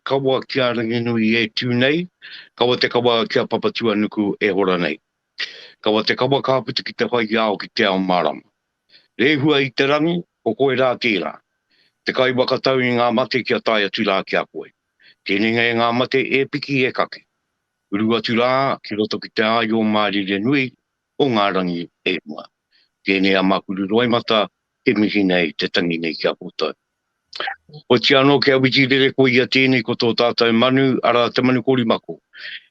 Kawa ki a Ranginui e tū nei, kawa te kawa ki a Papatūanuku e hora nei. Kawa te kawa ka puta ki te whai i a au ki te ao mārama. Rehua i te rangi, ko koe rā tērā. Te kai whakatau i ngā mate kia tae atu rā ki a koe. Tēnenga e ngā mate e piki e kake. Uru atu rā ki roto ki te āio mārire nui o ngā rangi e rua. Tēnei a Makuru Roimata e mihi nei te tangi nei ki a koutou. Otiia anō kia whiti rere koe i a tēnei ko tō tātou manu, arā te manu korimako.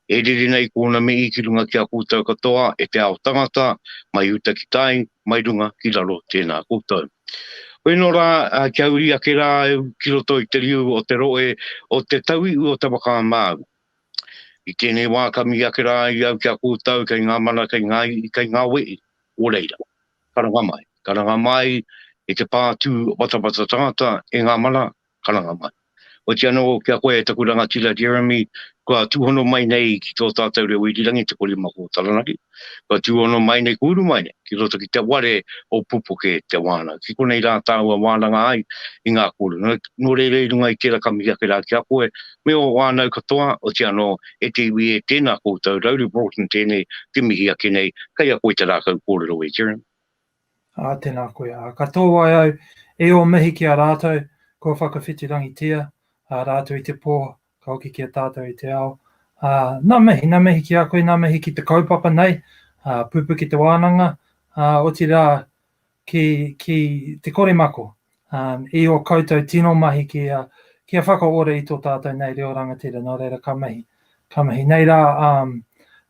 E rere nei kōna mihi ki runga ki a koutou katoa e te ao tangata, mai uta ki tai, mai runga ki raro tēnā koutou. Koe nō rā kia uri ake rā au ki roto i te riu o te roe o te tauiu o te waka māu. I tēnei wā ka mihi ake rā i au ki a koutou kei ngā mana, kei ngā ihi, kei ngā wehi, o reira. Karanga mai, karanga mai i te pā tū watawata tangata e ngā mana, karanga mai. Oti anō ki a koe e taku rangatira Jeremy, kua tūhono mai nei ki tō tātou reo irirangi Te Korima Kō Taranaki, kua tūhono mai nei, kua uru mai nei ki roto ki te ware o Pupuke te wānanga, ki konei rā tāua wānanga ai i ngā kōrero. Nō reira i runga i tērā ka mihi ake rā ki a koe, Me ō whānau katoa, oti anō, e te iwi e, tēnā koutou, Rowley Broughton tēnei, te mihi ake nei, kei a koe te rākau kōrero e Jeremy. Ā, tēnā koe. Ā, ka tōai au e ō mihi ki a rātou, kua whakawhitirangitia, ā, rātou i te pō, ka hoki ki a tātou i te ao. Ā, nā mihi, nā mihi ki a koe, nā mihi ki te kaupapa nei, ā, pupukitewānanga, ā, otirā, ki, ki te kore mako. Um, I o koutou tino mahi ki a, ki a whakaora i tō tātou nei reo rangatira, nō reira ka mahi. Ka mahi. Nei rā, um,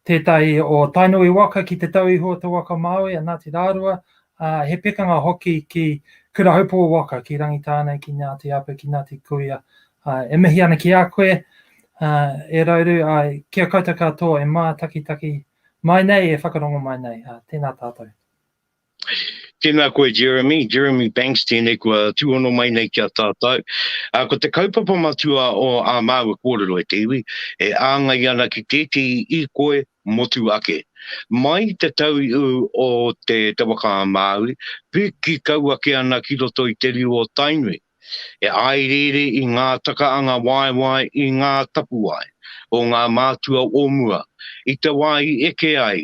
tētahi o Tainui waka ki te tau iho o te waka Māui, a Ngāti Rārua, uh, he pekanga hoki ki Kurahaupō waka, ki Rangitāne, ki Ngāti Apa, ki Ngāti Kuia. Uh, e mihi ana ki a koe, uh, e Rauru, ai, uh, kia koutou katoa e mātakitaki mai nei, e whakarongo mai nei. Uh, tēnā tātou. Tēnā koe Jeremy, Jeremy Banks tēnei kua tūhono mai nei ki a tātou. Uh, ko te kaupapa matua o ā māua kōrero e te iwi, e āngai ana ki tētehi i koe motu ake. Mai te tau i ū o te Te Waka a Māui, piki kau ake ana ki roto i te riu o Tainui. E āiriiri i ngā takaanga waewae i ngā tapuwae o ngā mātua o mua i te wā i eke ai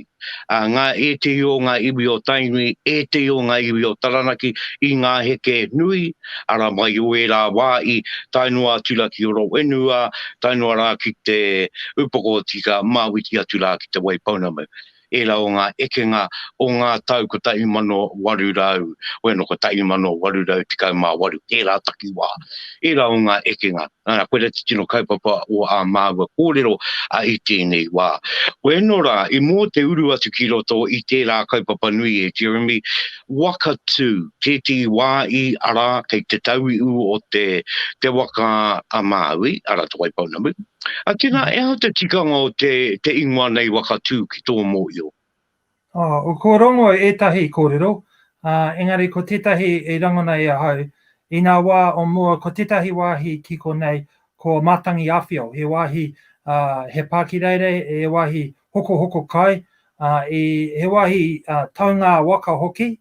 ngā ētehi o ngā iwi o Tainui, ētehi o ngā iwi o Taranaki i ngā heke nui, arā, mai o ērā wā i tae noa atu rā ki Horowhenua, tae noa rā ki te Upoko o Tika, Māwiti atu rā ki Te Waipounamu. Ērā o ngā ekenga o ngā tau 1800, hoi anō 1818, tērā takiwā. Ērā o ngā ekenga, ā, koirā te tino kaupapa o ā māua kōrero i tēnei wā. Hoi anō rā, i mō te uru atu ki roto i tērā kaupapa nui e Jeremy, waka tū, tētehi wā i, arā, kei te tauiu o te waka a Māui, arā, Te Waipounamu, A tena, e aha te tikanga o te te ingoa nei waka tu ki tō mōio? Oh, ko Rongo ētahi kōrero, ā, engari ko tētahi i rangona e ahau, inā wā o mua ko tētahi wāhi ki konei ko Matangi Awhio, he wāhi, ā, he pākireirei, he wāhi hokohoko kai, ā, i, he wāhi, ā, taungā waka hoki,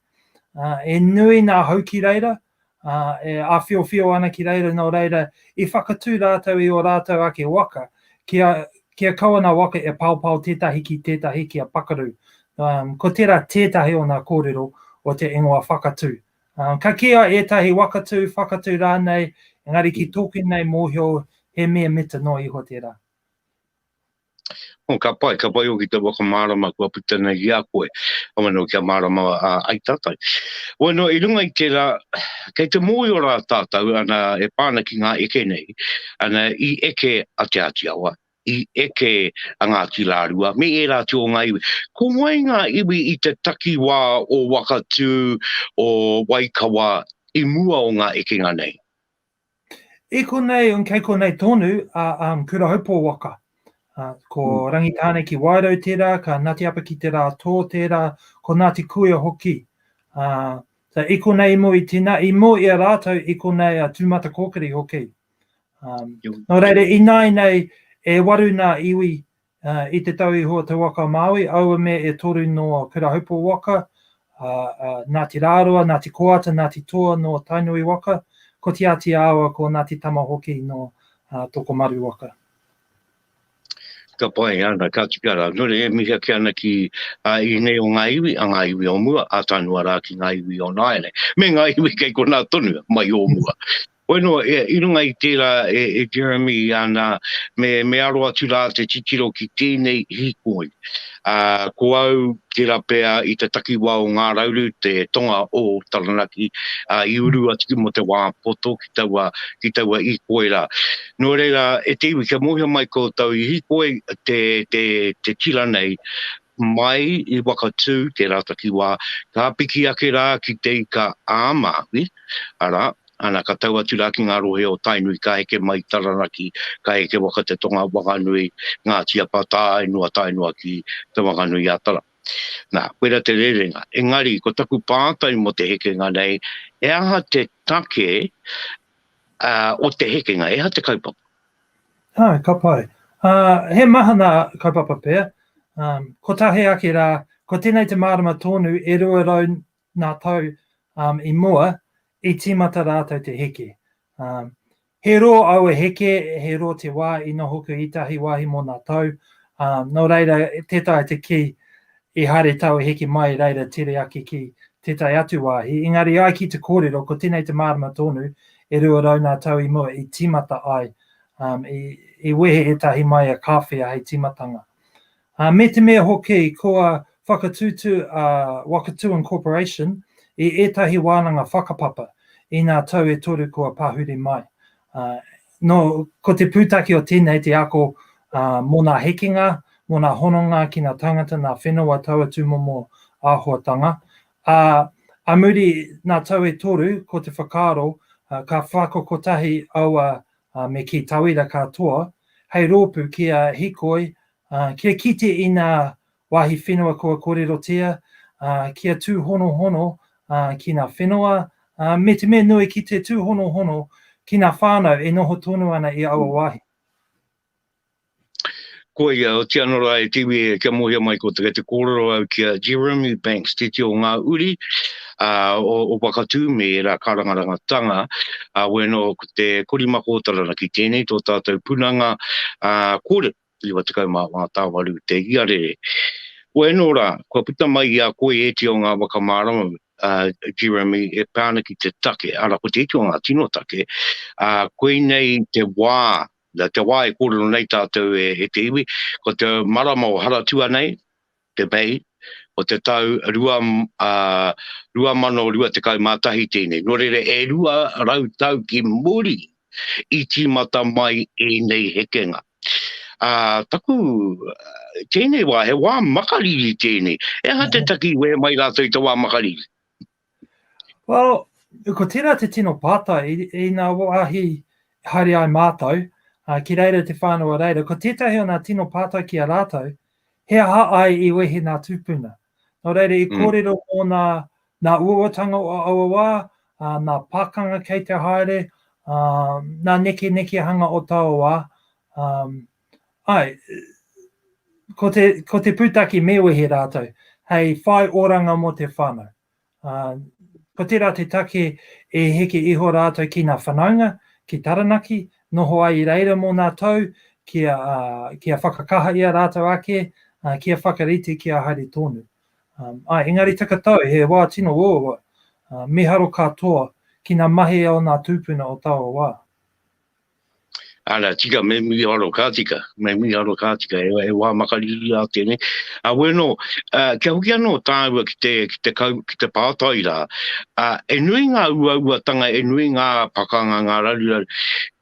ā, e nui nā hau ki reira, ā, e āwhiowhio ana ki reira nō reira i whakatū rātou i ō rātou ake waka, kia, kia kau ana waka e paopao tētahi ki tētahi kia pakaru. Um, ko tērā tētahi o nā kōrero o te ingoa whakatū. Um, ka kīia ētahi wakatū, whakatū rānei, engari ki tōku nei mōhio he mea mita noa iho tērā. Oh, ka pai, ka pai hoki te whakamārama kua puta nei ki a koe. Waino, kia mārama ai tātou. Waino, i runga i tērā, kei te mōhio rā tātou, ana, e pā ana ki ngā eke nei, ana, i eke a Te Āti Awa, i eke a Ngāti Rārua, me ērā atu o ngā iwi. Ko wai ngā iwi i te takiwā o Wakatū, o Waikawa, i mua o ngā ekenga nei? I konei, kei konei tonu a um, Kurahaupo waka. Uh, ko mm. Rangitāne ki Wairau tērā, ka Ngāti Apa ki Te Rātō tērā, ko Ngāti Kuia hoki. Uh, so, i konei mo i tina, i mo i a rātou, i konei a Tūmata Kōkiri hoki. Um, no reire, i nāi nei, e waru nā iwi I te tau i hua te waka Māui, aua mea e toru nō Pirahupo waka, Ngāti Rāroa, Ngāti Koata, Ngāti Toa nō Tainui waka, ko Tiatia awa ko Ngāti Tama hoki nō Tokomaru waka. Ka pai ana, ka tika rā. Nō reira e mihi ake ana ki a ēnei o ngā iwi, a ngā iwi o mua, a Tanuarā ki ngā iwi o nāianei, me ngā iwi kei konā tonu mai o mua. Wainua, i runga i tērā e Jeremy ana, me aro atu rā te titiro ki tēnei hīkoi. Ko au, tērā pea i te takiwā o Ngā Rauru, te tonga o Taranaki, i uru atu ki mō te wā poto ki taua hīkoi rā. Nō reira, e te iwi, kia mōhio mai koutou, i hīkoi te tira nei, mai i Wakatū tērā takiwā, ka piki ake rā ki Te Ika-a-Māui, arā, Ana ka tau atu rā ki ngā rohe o Tainui, ka heke mai i Taranaki, ka heke waka te tonga Wanganui, Ngāti Apa, tāainu a Tainua ki Te Wanganui-a-Tara. Nā, koira te rerenga. Engari, ko taku pātai mō te hekenga nei, he aha te take o te hekenga, he aha te kaupapa? Āe, ka pai. He mahana kaupapa pea. Kotahi ake rā, ko tēnei te mārama tōnu e 200 ngā tau i mua, i tīmata rātou te heke. He rō aua heke, he rō te wā i nohoku i tahi wāhi mō ngā tau, nō reira tē taea te kī i haere taua heke mai reira tere ake ki tētahi atu wāhi, engari ai ki te kōrero ko tēnei te mārama tōnu, e rua rau ngā tau i mua i tīmata ai, i wehe ētahi māia kāwhea hei tīmatanga. Ā, me te mea hoki kua whakatūtū a Wakatūan Corporation i ētahi wānanga whakapapa i ngā tau e toru kua pahuri mai. Ā, nō, ko te pūtake o tēnei te ako ā, mō ngā hekenga, mō ngā hononga ki ngā tāngata, ngā whenua taua tūmomo āhuatanga. Ā, a muri ngā tau e toru ko te whakaaro ā, ka whakakotahi aua ā, me kī tauira katoa, hei rōpū kia hikoi, ā, kia kite i ngā wāhi whenua kua kōrerotia, ā, kia tūhonohono, ā, ki ngā whenua, ā, me te mea nui ki te tūhonohono ki ngā whānau e noho tonu ana i aua wāhi. Koia, otia anō rā e te iwi e kia mōhio mai ko te kei te kōrero au ki a Jeremy Banks te tio ngā uri a, o, o Wakatū me ērā karangarangatanga a, wēnō ko te korimako o Taranaki tēnei tō tātou punanga a, kōrero 94 tāwaru te iarere wēnō rā kua puta mai i a koe e tio ngā waka mārama a, Jeremy e pā ana ki te take ara ko te iti o ngā tino take a, koinei te wā Na te wā e kōrero nei tātou e te iwi, ko te marama o Haratua nei, te May, o te tau 2021 tēnei. Nō reira, e rua rau tau ki muri i tīmata mai ēnei hekenga. Ā, taku, tēnei wā, he wā makariri tēnei. He aha te taki i wehe mai rātou i te wā makariri? Well, ko tērā te tino pātai, i nā wāhi haere ai mātou, uh, ki reira te whānau a reira, ko tētahi o nā tino pātai ki a rātou, he aha ai i wehe nā tūpuna? Nō reira, i mm. kōrero mm. mō nā, nā uawatanga o aua wā, uh, nā pākanga kei te haere, uh, nā neke nekehanga o taua wā, um, Ai, ko te, ko te pūtaki me wehe rātou, hei whai oranga mō te whānau. Uh, ko tērā te take e heke iho rātou ki ngā whanaunga, ki Taranaki, noho ai i reira mō ngā tau, kia, uh, kia whakakaha i a rātou ake, uh, kia whakarite, kia haere tōnu. Um, ai, engari takatau, he wā tino wōwa, uh, miharo katoa ki ngā mahi o ngā tūpuna o taua wā. Ara tika me mi aro ka tika, me mi aro ka tika e e wa makari i a tene. A weno a kia hoki ano tāua ki te ki te kau ki te pātai rā. A e nui ngā uauatanga e nui ngā pakanga ngā raruraru.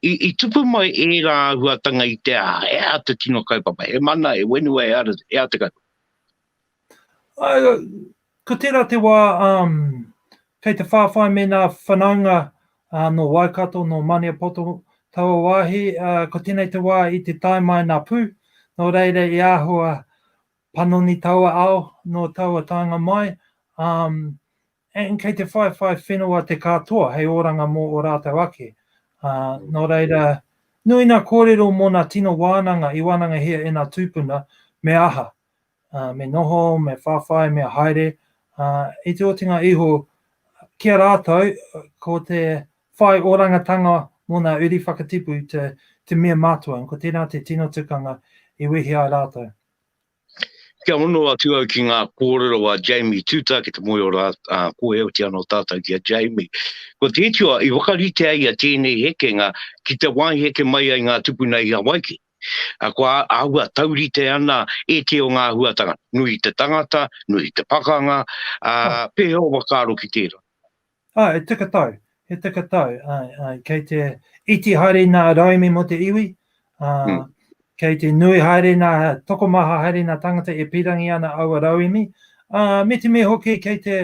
I, i tupu mai e rā huatanga i te a e a te tino kaupapa. E mana e wenua e ara e a te kaupapa. Uh, ko tērā te wā, um, kei te whāwhai me nā whanaunga uh, nō Waikato, nō Maniapoto, taua wāhi, uh, ko tēnei te wā i te tae mai nā pū, nō reira i āhua panoni taua ao, nō taua tānga mai, um, And kei te whaiwhai whenua te katoa hei oranga mo o ratou ake. No reira, nui na korero mona tino wananga i wanangahia ena tupuna, me aha? Me noho, me whawhai, me haere, i te otinga iho ki a ratou ko te whai orangatanga mo na uri whakatipu te mea matua, and ko tena te tino tukanga i wehi ai ratou. Kia hono atu au ki ngā kōrero a Jamie Tuta ki te moe o rā, ā, ko Eoti anō tātou ki a Jamie. Ko te iti o, i whakaritea ia tēnei hekenga ki te wāhi heke mai ai ngā tupuna i Hawaiki. Ā, kua āhua taurite ana e te o ngā āhuatanga, nui te tangata, nui te pakanga, ā, pēhea o whakaaro ki tērā. Oh, he tika tau, he tika tau. Ai, ai, kei te iti haere nā raimi mo te iwi, uh, mm. kei te nui haere nā tokomaha haere nā tangata e pirangi ana aua rauemi, uh, me te me hoki kei te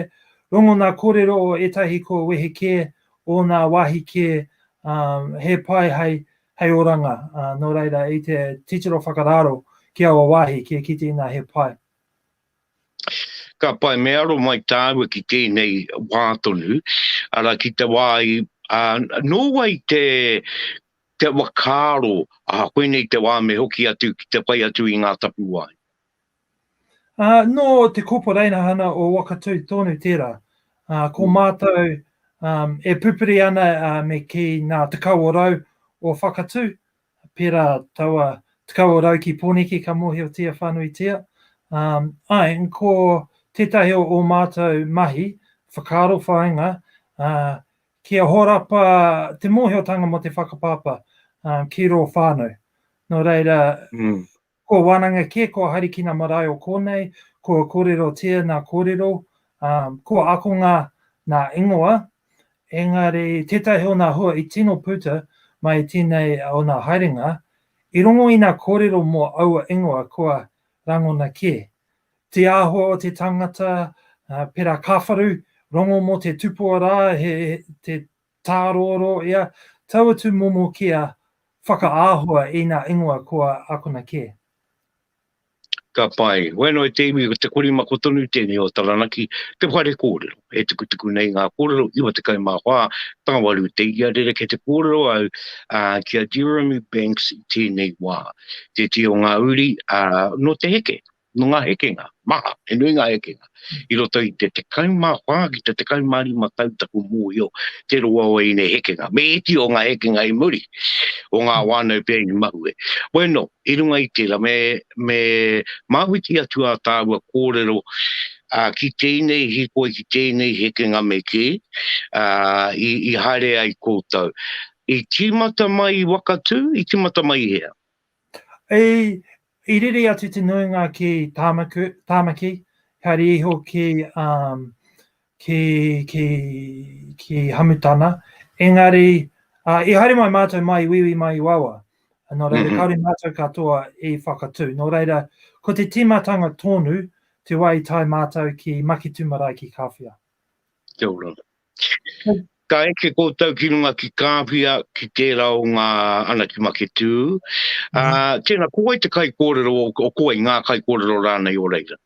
rongo nā kōrero o etahi ko wehe kē, o nā wāhi kē, um, he pai hei, hei oranga, uh, nō reira i te titiro whakararo ki aua wāhi, kia kite ina he pai. Ka pai, me aro mai tāua ki tēnei wā tonu, arā, ki te wā i, ā, nō wai te, te whakaaro, ā, koinei te wā me hoki atu ki te whai atu i ngā tapuwae? Ā, nō te Kopo Reina-hana o Wakatū tonu tērā. Ā, ko mātou, ā, e pupuri ana, ā, me kī nā Te Kawerau o Whakatū, He pērā taua tekau o rau ki Pōneke ka mōhiotia whānuitia. Āe, ko tētahi o ō mātou mahi, whakaaro whāinga, kia horapa te mōhiotanga mō te whakapapa ki rō whānau. Nō reira, Kua wānanga kē, kua harikina marae o kōnei, kua kōrero tēana kōrero, kua akonga nā ingoa, engari tētahi o nā hua i tino puta mai tēnei o nā haerenga, i rongo i nā kōrero mō aua ingoa kua rangona kē. Te āhua o te tangata, pērā Kāwharu, rongo mō te tupua rā, he Tāroaroa ia, tau atu momo kia whakaāhua ina ingoa kua akona kē. Ka pai. Koe anō e te iwi, ko te korimako tonu tēnei o Taranaki, te whare kōrero. He tukutuku nei ngā kōrero, 94 tāwaru te ia, rerekē te kōrero au ki a Jeremy Banks i tēnei wā. Tētehi o ngā uri, nō te heke, Nō ngā hekenga maha, he nui ngā hekenga i roto i te 14 ki te 15 tau taku mōhio te roa o ēnei hekenga. Me iti o ngā hekenga i muri, o ngā whānau pea i mahue. Bueno, i runga i tērā, me, me māwhiti atu ā tāua kōrero, ā, ki tēnei hīkoi, ki tēnei hekenga me kī, ā, i, i haere ai koutou. I tīmata mai i Wakatū, i tīmata mai i hea? I rere atu te nuinga ki Tāmaki, haere iho ki Hamutana, engari i haere mai mātou mai i Wīwī mai i Wawa, nō reira kāore mātou katoa i whakatū. Nō reira, ko te tīmatanga tōnu te wā i tae mātou ki Maketū marae ki Kāwhia. Kia ora. Ka eke koutou ki runga ki Kāwhia ki tērā o ngā ana ki Maketū. Ā, tēnā, ko wai te kaikōrero o, o ko wai ngā kaikōrero rānei o reira?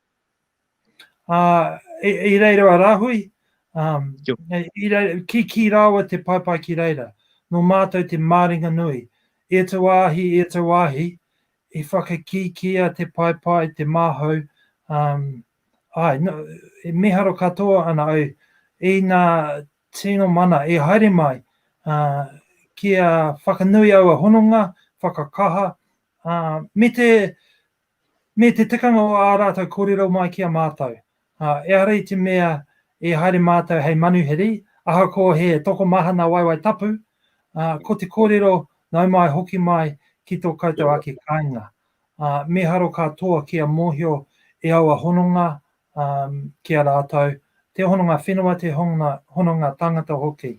Ā, i, i reira a Rāhui, um, Tio. i reira, ki, ki rāua te paepae ki reira, nō mātou te māringa nui. E te wāhi, e te wāhi, i whakakīkīia te paepae, te māhau, um, Āe, nō, e miharo katoa ana au i ngā tino mana i haere mai, ā, kia whakanui aua hononga, whakakaha, ā, me te, me te tikanga o ā rātou kōrero mai ki a mātou. Ā, ehara i te mea i haere mātou hei manuhiri, ahakoa he tokomaha nā Waewae Tapu, ā, ko te kōrero nau mai hoki mai ki tō koutou ake kāinga. ā, mīharo katoa kia mōhio e aua hononga ā, ki a rātou, te hononga whenua, te hononga, hononga tāngata hoki.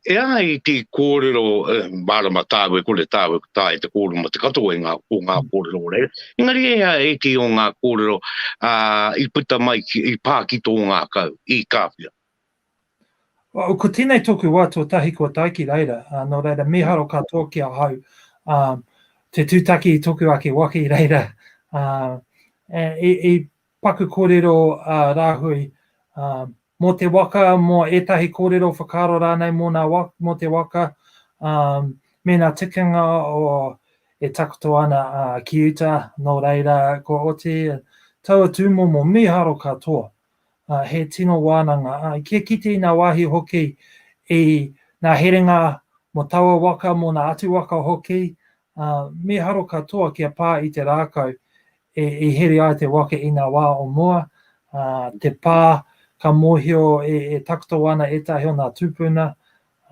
E ai ki kōrero, e, mārama tāu e kore tāu e taea te kōrero mō te katoa i ngā, o ngā kōrero o reira, engari e ai ētehi o ngā kōrero, ā, i puta mai ki, i pā ki tō ngākau, i Kāwhia. Oh, ko tēnei tōku wā tuatahi kua tae ki reira, uh, nō reira mīharo katoa ki ahau uh, te tūtaki i tōku ake waka i reira. Uh, i, i paku kōrero uh, rāhui uh, mō te waka, mō ētahi kōrero whakaaro rānei mō, nā waka, mō te waka, um, me nā tikanga o e takoto ana uh, ki uta, nō reira ko oti taua tūmomo mīharo katoa. uh, he tino wānanga. Uh, kia kite i ngā wāhi hoki i ngā herenga mo taua waka, mo ngā atu waka hoki, uh, miharo katoa kia pā i te rākau e, e here ai te waka i ngā wā o mua, uh, te pā ka mōhio e, e takoto ana ētahi o ngā tūpuna,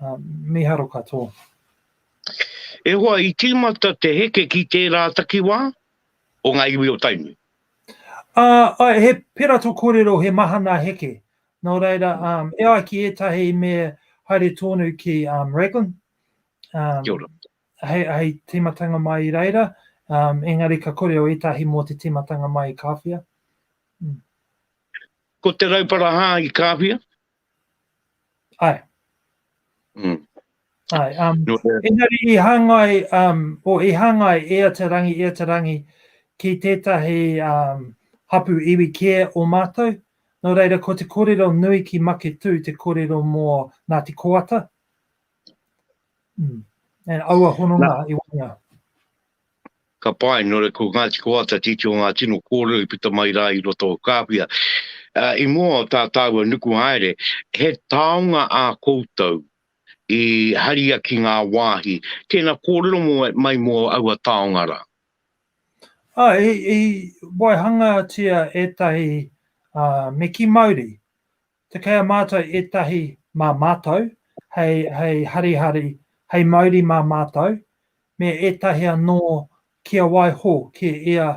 uh, miharo katoa. E hoa, i tīmata te heke ki tērā takiwā, o ngā iwi o Tainui. Ā, āe, he pera tō kōrero, he maha nā Heke. Nō reira, e ai ki ētahi me haere tōnu ki Raglan, hei tīmatanga mai i reira, engari ka kōrero ētahi mō te tīmatanga mai i Kāwhia. Ko Te Rauparaha i Kāwhia, Ae. Mm. Ae, um, no, uh, engari i hangai, um, o i hangai e a te rangi, e a te rangi, ki tētahi um, hapu iwi kē o mātou, no reira ko te kōrero nui ki Maketū te kōrero mō Ngāti Koata, mm. and aua hononga i wanga. ka pae, nō reira ko Ngāti Koata te iti o ngā tino kōrero i puta mai rā i roto o Kāwhia. I mua o tā tāua nuku haere, he taonga ā koutou i haria ki ngā wāhi, tēnā kōrero mai mō aua taonga rā. Āe, i waihangatia ētahi me kī mauri, Te kei a mātou ētahi mā mātou, hei, hei harihari, hei mauri mā mātou, me ētahi anō kia waiho ki ia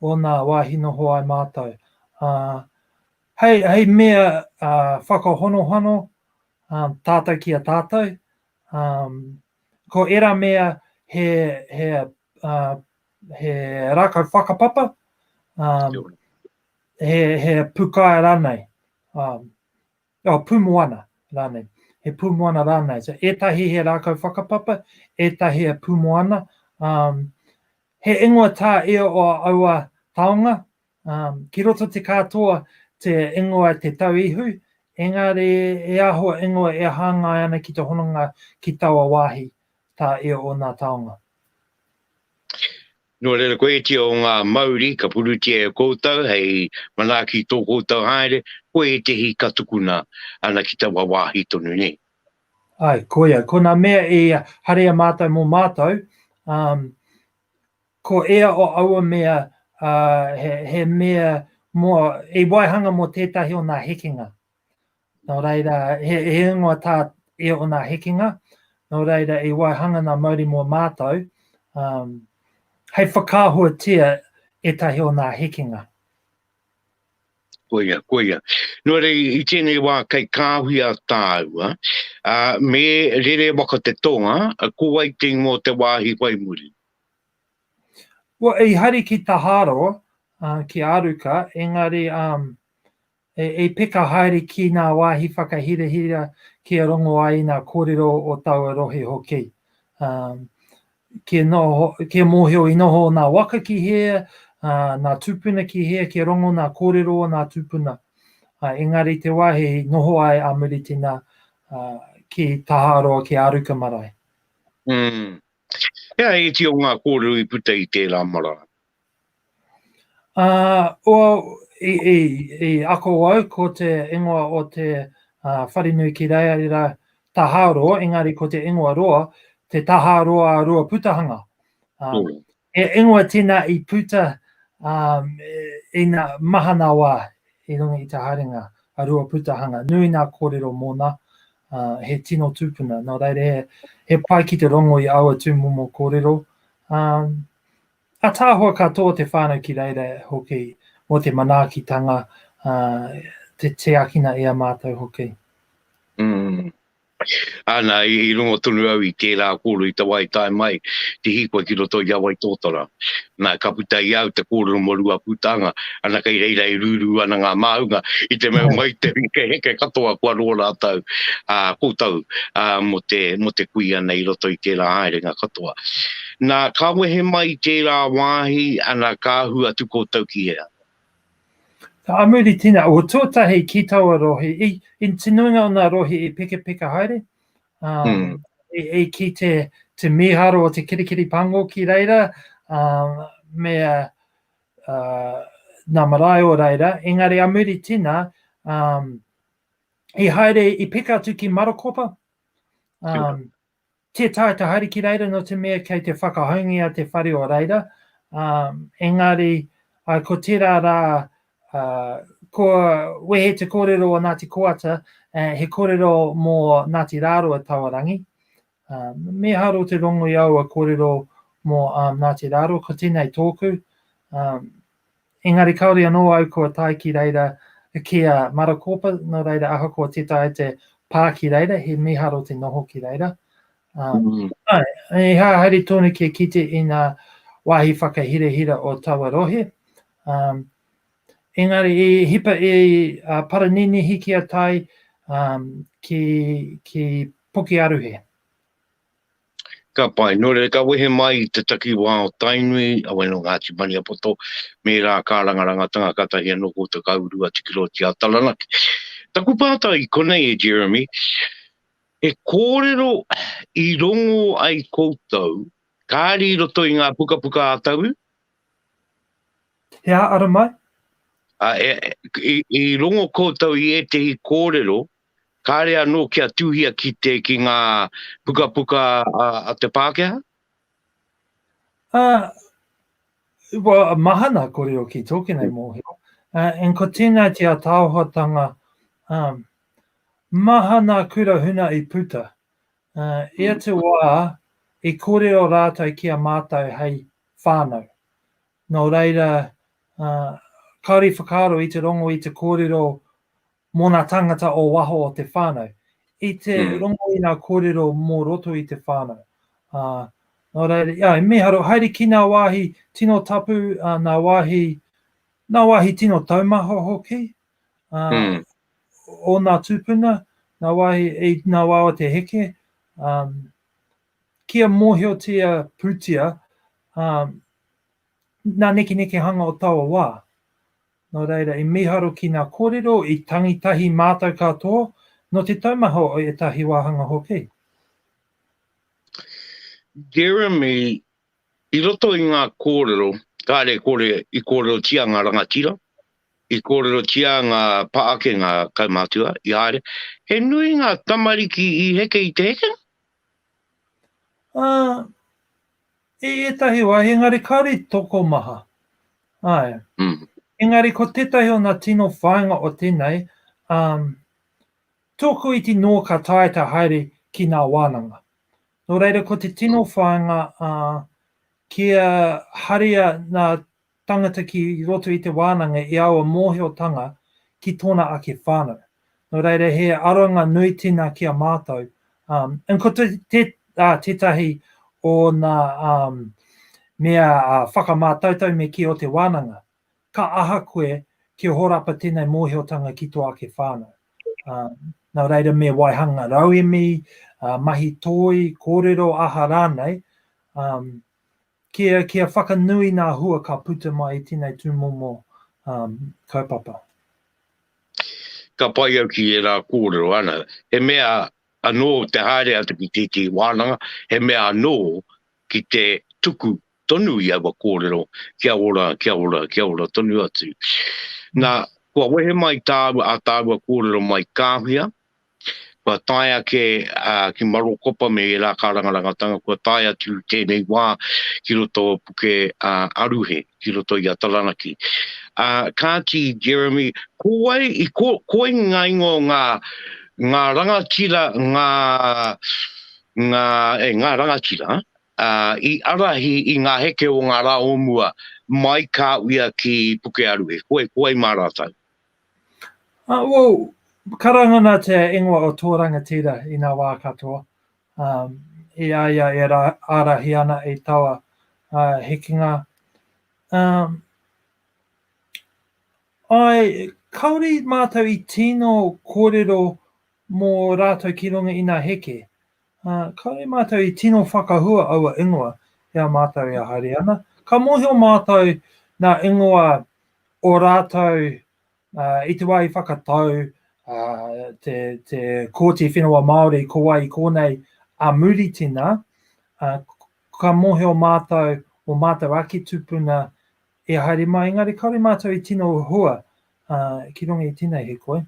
o nā wāhi noho ai mātou. Ā, hei, hei mea ā, whakahonohono ā, tātou ki a tātou, ā, ko ērā mea he, he, ā, he rākau whakapapa, ā, Kia ora. he, he pukae rānei, um, oh, pūmoana rānei, he pūmoana rānei. So, ētahi he rākau whakapapa, ētahi he pūmoana. Um, he ingoa tā e o aua taonga, um, ki roto te kātoa te ingoa te tau ihu, engari e aho ingoa e hāngai ana ki te hononga ki taua wāhi tā e o nā taonga. Nō reira koetia o ngā mauri ka purutia e koutou hei manaaki i tō koutou haere, ko ētehi ka tukuna ana ki taua wāhi tonu nei. Āe, koia, ko nā mea i haria mātou mō mātou, ā, ko ia o aua mea, ā, he, he mea mō, i waihanga mō tētahi o nā hekenga. Nō reira, he, he ingoa tā e ōna hekenga, nō reira i waihanga nā Mauri mō mātou, um, hei whakaahuatia ētahi o nā hekenga. Koia, koia. Nō rei, i tēnei wā kei kāhui a tāua, a, me rere waka te tonga, a, ko ai te ingoa te wāhi whai muri. Well, i hari ki Taharo, uh, ki Aruka, engari um, E, e peka haere ki ngā wāhi whakahirahira kia rongo ai i ngā kōrero o taua rohe hoki. Um, kia, noho, kia mōhio i noho o ngā waka ki hea, uh, ngā tūpuna ki hea, kia rongo ngā kōrero o ngā tūpuna. Uh, engari te wāhi noho ai a Muritina uh, ki Taharoa, ki Aruka marae. Mm. Hea e iti o ngā kōrero i puta i tērā marae? Ā, ua, i, i, i ako au ko te ingoa o te uh, wharenui ki Reira Tahāroa, engari ko te ingoa roa, te Tahāroa Roa Putahanga. Um, mm. E ingoa tēnā i puta um, i nā mahana wā i runga i te haerenga a Roa Putahanga. Nui nā kōrero mōna, uh, he tino tūpuna. Nō reira, he, he pai ki te rongo i aua tūmomo kōrero. Um, Ataahua katoa te whānau ki reira hoki mo te manaakitanga te tiakina e a mātou hoki. Mm. Ana, i rongo tonu au i tērā kōrero i te wā i tae mai te hīkoi ki roto i a Waitōtara. Nā, ka puta i au te kōrero mō Ruapūtanga, ana kei reira e rūrū ana ngā māunga i te mea mai te hekeheke katoa kua roa rātou koutou mō te kui ana i roto i tērā haerenga katoa. Na, ka wehe mai i tērā wāhi, ana, ka ahu atu koutou ki hea? Ka amuri tina, o tuatahi ki taua rohe, i, i te nuinga o nga rohe i pekapeka haere, ā, i, i ki te, te miharo o te kirikiri pango ki reira, ā, me, ā, nga marae o reira, engari amuri tina, ā, i haere, i peka atu ki Marokopa, ā, Tē taea te haere ki reira nō te mea kei te whakahoungia te whare o reira, ā, engari, ā, ko tērā rā, ā, kua wehe te kōrero o Ngāti Koata, ā, he kōrero mō Ngāti Rāroa Tawarangi. Ā, me haro te rongo i aua kōrero mō, ā, Ngāti Rāroa, ko tēnei tōku, ā, Engari kāore anō au kua tae ki reira ki a Marakōpa, nō reira ahakoa tē taea te pā ki reira, he mīharo te noho ki reira. Mm. Āe, he haere tonu kia kite i ngā wāhi whakahirahira o taua rohe. Um, engari, i hipa i uh, Paraninihi ki a Tai, um, ki, ki Pukearuhe. Ka pai. Nō reira, ka wehe mai i te takiwā o Tainui, a Wai nō Ngāti Maniapoto, me rā kā rangarangatanga katahi anō ko Te Kauru a Tikiroti a Taranaki. Taku pātai i konei e Jeremy, he kōrero i rongo ai koutou kāri i roto i ngā pukapuka a Taui? He ā, ara mai? Ā, e, i, i rongo koutou i ētehi kōrero kāre anō kia tūhia ki te ki ngā pukapuka a, a te Pākehā? Uh, well, mahana ko reo ki tōki nei mōhio. Uh, and ko tēnā te ataohotanga um, mahana kura huna i puta. Uh, e hmm. atu wā, i kōrero rātou ki a mātou hei whānau. Nō reira, uh, kāori whakaaro i te rongo i te kōrero Mō ngā tāngata o waho o te whānau, i te rongo i ngā kōrero mō roto i te whānau. Ā, nō reira, ā, i mīharo, haere ki ngā wāhi tino tapu, ā, ngā wāhi, ngā wāhi tino taumaha hoki, ā, o ngā tūpuna, ngā wāhi, i ngā wā o te heke, ā, kia mōhiotia pūtia, ā, ngā nekenekehanga o taua wā. Nō reira, i mīharo ki ngā kōrero i tangi tahi mātou katoa, nō te taumaha o ētahi wāhanga hoki. Jeremy, I roto i ngā kōrero, kāre kore i kōrerotia ngā rangatira, i kōrerotia ngā pā ake, ngā kaumātua, i haere, he nui ngā tamariki i heke i te hekenga? Ā, I ētahi wā, engari kāore i tokomaha. Āe. Mm. Engari ko tētahi o nā tino whāinga o tēnei, um, tōku iti nō ka tae te haere ki nā wānanga. Nō reira ko te tino whāinga uh, kia haria nā Tangata ki roto i te wānanga i aua mōhiotanga ki tōna ake whānau. Nō reira he aronga nui tina ki a mātou, ā, ko tētahi o ngā mea whakamātautau me kī o te wānanga, ka aha koe kia horapa tēnei mōhiotanga ki tō ake whānau. Ā, nō reira me waihanga rauemi, mahi toi, kōrero aha rānei, ā, Kia, kia whakanui ngā hua ka puta mai i tēnei tūmomo um, kaupapa. Ka pai au ki ērā kōrero, ana, he mea anō te haere atu ki tētehi wānanga, he mea anō ki te tuku tonu i aua kōrero, kia ora, kia ora, kia ora tonu atu. Nā, kua wehe mai tāua, a tāua kōrero mai kāwhia, Kua tae ake ki Marokopa me ērā karanga rangatanga, kua tae atu tēnei wā ki roto o Puke Aruhe, ki roto i a Taranaki. Kāti, Jeremy, ko wai, ko wai ngā ingoa o ngā, ngā rangatira, ngā, ngā, e, ngā rangatira, i arahi i ngā heke o ngā rā o mua mai ka uia ki Puke Aruhe, ko wai, ko wai mā rātou? Uh, well, karanga nā te ingoa o tō rangatira i ngā wā katoa. Um, i a ia e ra, ārahi ana i taua uh, hekenga. Um, ai, kaori mātou i tino kōrero mō rātou ki runga i nā heke. Kāore mātou i tino whakahua aua ingoa i a mātou e haere ana. Ka mōhio mātou nā ingoa o rātou i te wā i whakatau te Kōti Whenua Māori ko wai i kōnei a Muritina, ka mōhio mātou o mātou ake tupuna e haere mai, engari kāore mātou i tino hua ki runga i tēnei hikoi.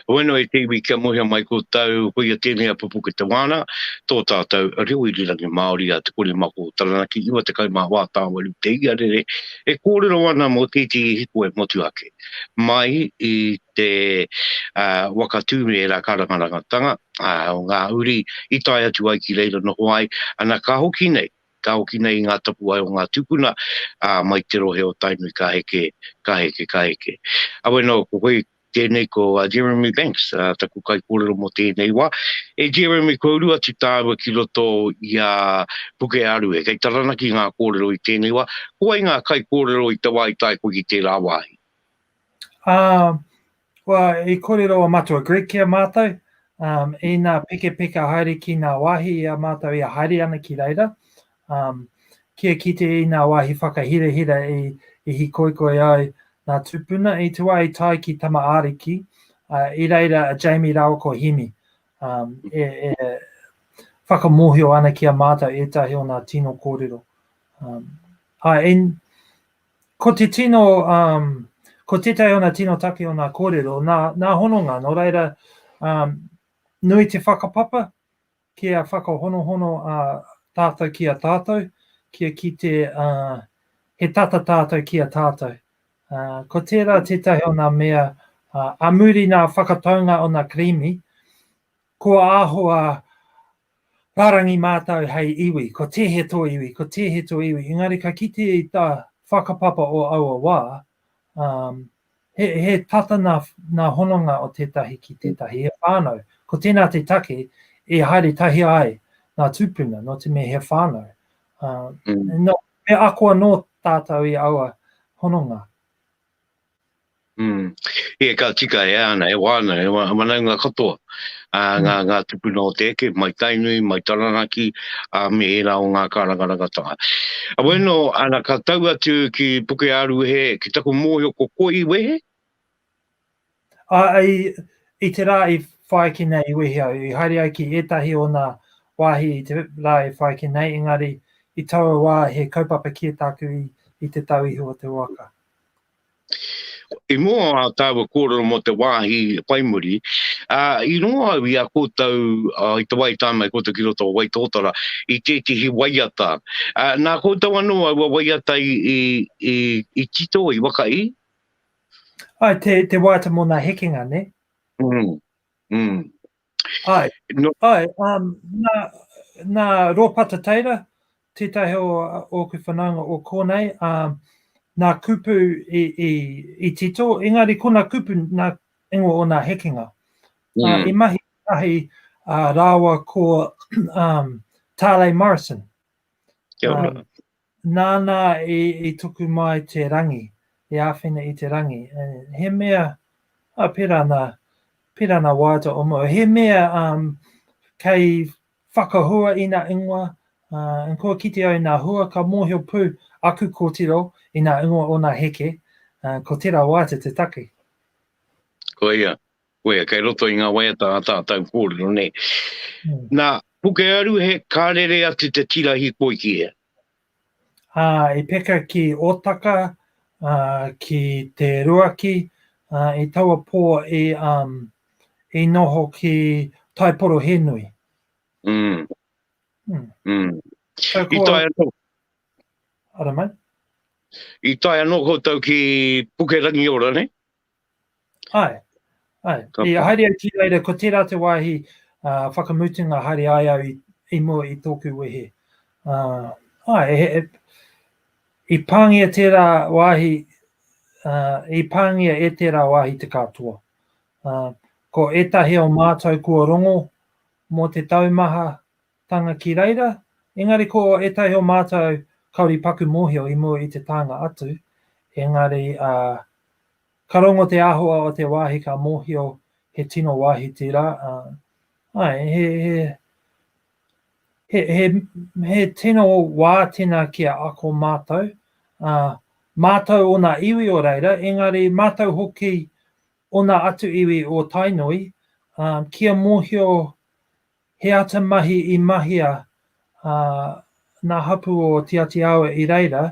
Hoi anō e te iwi kia mohia mai ko tau, koia tēnei a Pupuke Te Wāna, tō tātau reo irirangi Māori a Te Kori Mako o Taranaki, 91 Tāwari te iarere e kōrero ana mō tētehi hikoe motu ake. Mai i te waka tū me ērā kārangarangatanga o ngā uri i tae atu ai ki reira noho ai, ana ka hoki nei. ka hoki nei i ngā tapuwae o ngā tūpuna mai te rohe o Tainui ka heke, ka heke, ka heke. Awe nō, ko koe tēnei ko Jeremy Banks, taku kaikōrero mō tēnei wā. E Jeremy, kua uru atu tāua ki roto i a Pukearue. Kei Taranaki ngā kōrero i tēnei wā. Ko wai ngā kaikōrero i te wā i tae koe ki tērā wāhi? Ā, Kua i korero a matua Greg ki a matou, um, ina pekepeka haere ki nga wahi i a matou ia haere ana ki reira, um, kia kite i nga wahi whakahirahira i, i hikoikoi ai nga tupuna, i te wa i tai ki Tama Ariki, uh, i reira a Jamie rawa ko Hemi, um, e, e whakamohio ana ki a matou etahi o nga tino korero. Um, ai, Ko te tino, um, ko tētahi o nā tino take o nā kōrero, nā, nā hononga, nō reira, um, nui te whakapapa kia whakahonohono a tātou ki a tātou, kia ki te, uh, he tata tātou ki a tātou. Uh, ko tērā tētahi o nā mea, uh, a muri nā whakataunga o nā karimi, kua āhua Rārangi mātou hei iwi, ko tēhea tō iwi, ko tēhea tō iwi, engari ka kite i tā whakapapa o aua wā, um, he, he tata nā, nā hononga o tētahi ki tētahi, he whānau. Ko tēnā te take e haere tahia ai nā tūpuna, nō te mea he whānau. Uh, mm. no, me ako anō tātou i aua hononga. Ia ka tika e ana, e wāna, e whanaunga katoa, ngā tupuna o te eke, mai Tainui, mai Taranaki, me ērā o ngā kārangarangatanga. Heoi anō, ana ka tau atu ki Pukeāruhe, ki taku mōhio ko koe i wehe? Āe, i te rā i whāiki nei i wehe au, i haere ai ki ētahi o nā wāhi i te rā i whāiki nei, engari i taua wā he kaupapa kē tāku i te tau iho o te waka. I mua o tāua kōrero mō te wāhi whai muri, i rongo au i a koutou i te wā i tāmai koutou ki roto o Waitōtara i tētehi waiata. Nā koutou anō aua waiata i tito, i waka i? Ai, te waiata mō nā hekenga, nē? Ū, ū. Ai, no. ai, um, nā, nā Rōpata Teira, tētahi o ōku whanaunga o kōnei, um, nā kupu i, i, i tito, engari ko nā kupu nā ingo o nā hekenga. Mm. Uh, I mahi ahi uh, rāwa ko um, Tālei Morrison. Kia ora. Um, Nāna i tuku mai te rangi, i āwhina i te rangi. He mea, oh, pērā nā, pērā nā waiata o mua. He mea um, kei whakahua i nā ingoa, uh, and kua kite au i nā hua, ka mōhio pū aku kōtiro i nā ingoa o nā heke, uh, ko tērā waiata te take. Koia, Koia, kei roto i ngā waiata ā tātau kōrero, nē. Nā, Pukearuhe, ka rere atu te tira hikoi ki hea? Ā, i peka ki Ōtaka, ā, ki Te Ruaki, ā, i taua pō i, ā, i noho ki Taiporohenui. Mm. Mm. Mm. So, ko... I tae anō. Ara mai. I tae anō koutou ki Pukerangiora, ne? Ae, ae, i haere au ki reira, ko tera te wahi uh, whakamutunga haere ai au i, i mua i toku wehe. Uh, ae, he, he, i pāngia tērā wāhi, uh, i pāngia e tērā wāhi te katoa. Uh, ko ētahi o mātou kua rongo mō te taumaha, Tānga ki reira, engari ko ētahi o mātou kāore i paku mōhio i mua i te tānga atu, engari ā, ka rongo te āhua o te wāhi ka mōhio he tino wāhi tērā, ā, āe, he, he, he, he, he tino wā tēnā ki a ako mātou, ā, mātou ōna iwi o reira, engari mātou hoki ōna atu iwi o Tainui, ā, kia mōhio He ata mahi i mahia a ngā hapū o Tiati Awa i reira,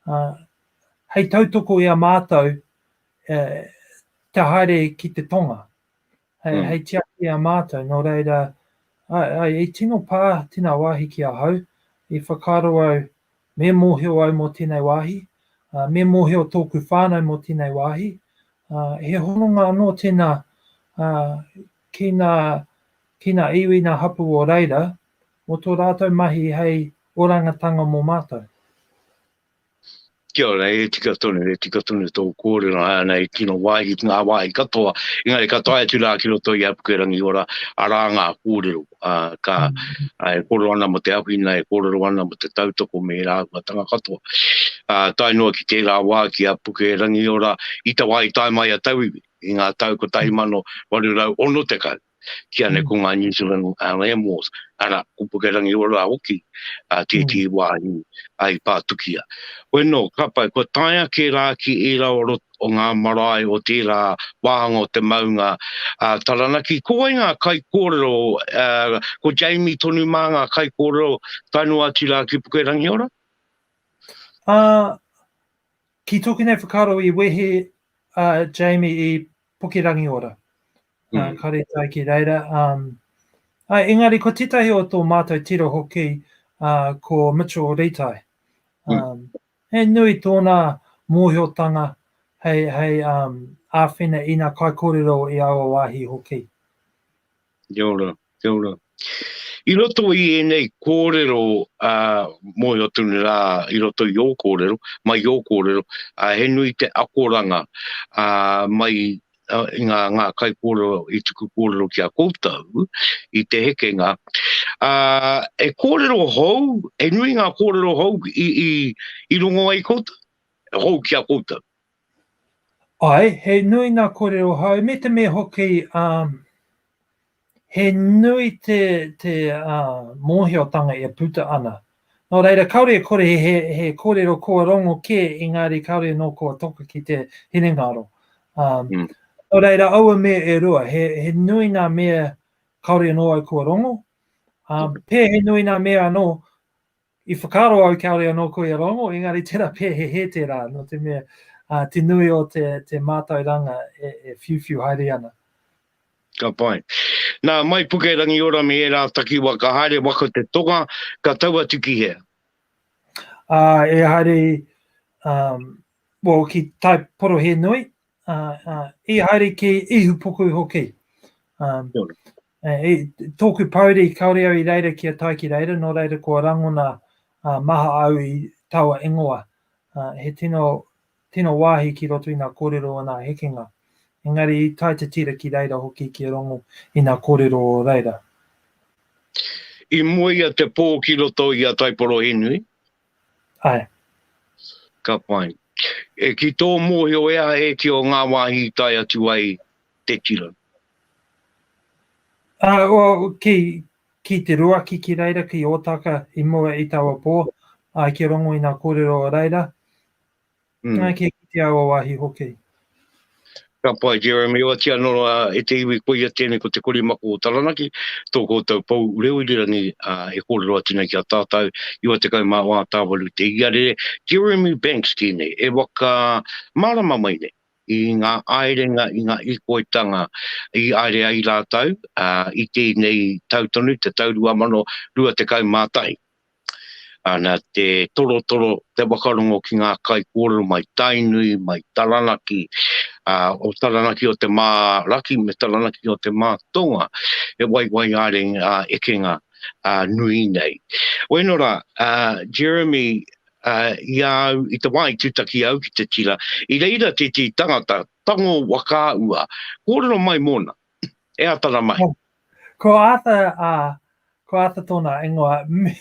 ā, hei tautoko i a mātou e, te haere ki te tonga, hei, mm. hei tiaki i a mātou, nō reira, ai, ai, i tino pā tēnā wāhi ki ahau, i whakaaro au Me mōhio au mō tēnei wāhi, ā, me mōhio tōku whānau mō tēnei wāhi, ā, he hononga anō tēnā, ā, ki ngā, ki ngā iwi, ngā hapū o reira, mō tō rātou mahi hei orangatanga mō mātou. Kia ora, e tika tonu, e tika tonu tō kōrero, hai ana he tino wāhi ki ngā wāhi katoa, engari ka tae atu rā ki roto i Apukerangi Ora, arā ngā kōrero. uh, ka uh, e koro ana mo te awhina, e kororo ana mo te tautoko me e rāua tanga katoa. Uh, tae noa ki tērā wā ki a Puke Rangiora, i te wā i tae mai a Tauiwi, i ngā tau ko tai mano waru rau ono te kau, ki ane mm. ko ngā New Zealand uh, Land Wars, ara, ko Puke Rangiora hoki, uh, tētī mm. wā i, ai pātukia. Weno, ka pai, kua tae ake rā ki ērā o roto, o ngā marae o tērā wāhanga o te maunga a Taranaki. Ko wai ngā kaikōrero, ko Jamie tonu mā ngā kaikōrero tae noa atu rā ki Pukerangiora? Ki tōku nei whakaaro i wehe a Jamie i Pukerangiora, ka rere ai ki reira. Engari ko tētahi o tō mātou tiro hoki ko Mitchell Ritai, He nui tōna mōhiotanga hei āwhina i ngā kaikōrero i aua wāhi hoki. Kia ora, kia ora. I roto i ēnei kōrero mōhio tonu rā i roto i ō kōrero, mai i ō kōrero, he nui te akoranga mai i ngā, ngā kaikōrero i tuku kōrero ki a koutou i te hekenga, ā, he kōrero hou, he nui ngā kōrero hou i, i, i rongo ai koutou, hou ki a koutou. Ai, he nui ngā kōrero hou, me te mea hoki, um, He nui te, te uh, mōhiotanga e puta ana. Nō reira, kāore e kore he, he kōrero kua rongo kē, engāri kāore nō kua toka ki te hinengaro. Um, mm. Nō reira, aua mea e rua, he, he nui ngā mea kāore nō au kua rongo, um, pē he nui ngā mea anō I whakaaro au kāore anō koia rōngo, engari tērā pea he hē tērā, nō te mea, ā, te nui o te, te mātauranga e, e whiuwhiu haere ana. Ka pai. Nā, mai Pukerangiora me ērā takiwa ka haere waka o te tonga, ka tau atu ki hea? Ā, e haere, um, well, ki Tai Porohēnui, ā, ā, i haere ki Ihupuku hoki. Um, Eh, i tōku pouri, kaore au i reira ki a tai ki reira, nō reira kua rangona uh, maha au i taua ingoa. Uh, he tino, tino wāhi ki roto i ngā kōrero o ngā hekenga. Engari i tai te tira ki reira hoki ki rongo i ngā kōrero o reira. I moe ia te pō ki roto i a Taiporohenui, Ae. Ka pai. E ki tō mōhio ea ēti o ngā wāhi i tae atu ai te tira? Uh, well, ki, ki te ruaki ki reira, ki Ōtaka i mua i taua pō, ai ki rongo i ngā kōrero o reira. Nā, kia kitea aua wāhi hoki. Ka pai, Jeremy, oati anō rā, e te iwi koia tēnei ko Te Korimako o Taranaki, tō koutou pou reo irirangi e kōrero atu nei ki a tātou, 94 tāwaru te iarere, Jeremy Banks tēnei, e waka mārama mai nei i ngā āerenga, i ngā ikoitanga i aere ai rātou i tēnei tau tonu, te tau 2021. ā, nā te torotoro te whakarongo ki ngā kaikōrero mai Tainui, mai Taranaki, ā, o Taranaki o te Mā-raki me Taranaki o te Mā-tonga, he waiwai ā-renge, ā-ekenga, ā, nui nei. Wēnō rā, ā, Jeremy, ā, i a au, i te wā i tūtaki au ki te tira, i reira tētehi tangata, tango waka ua, kōrero mai mōna, E ata ra mai. Ko Arthur, a, ko Arthur tona ingoa, me,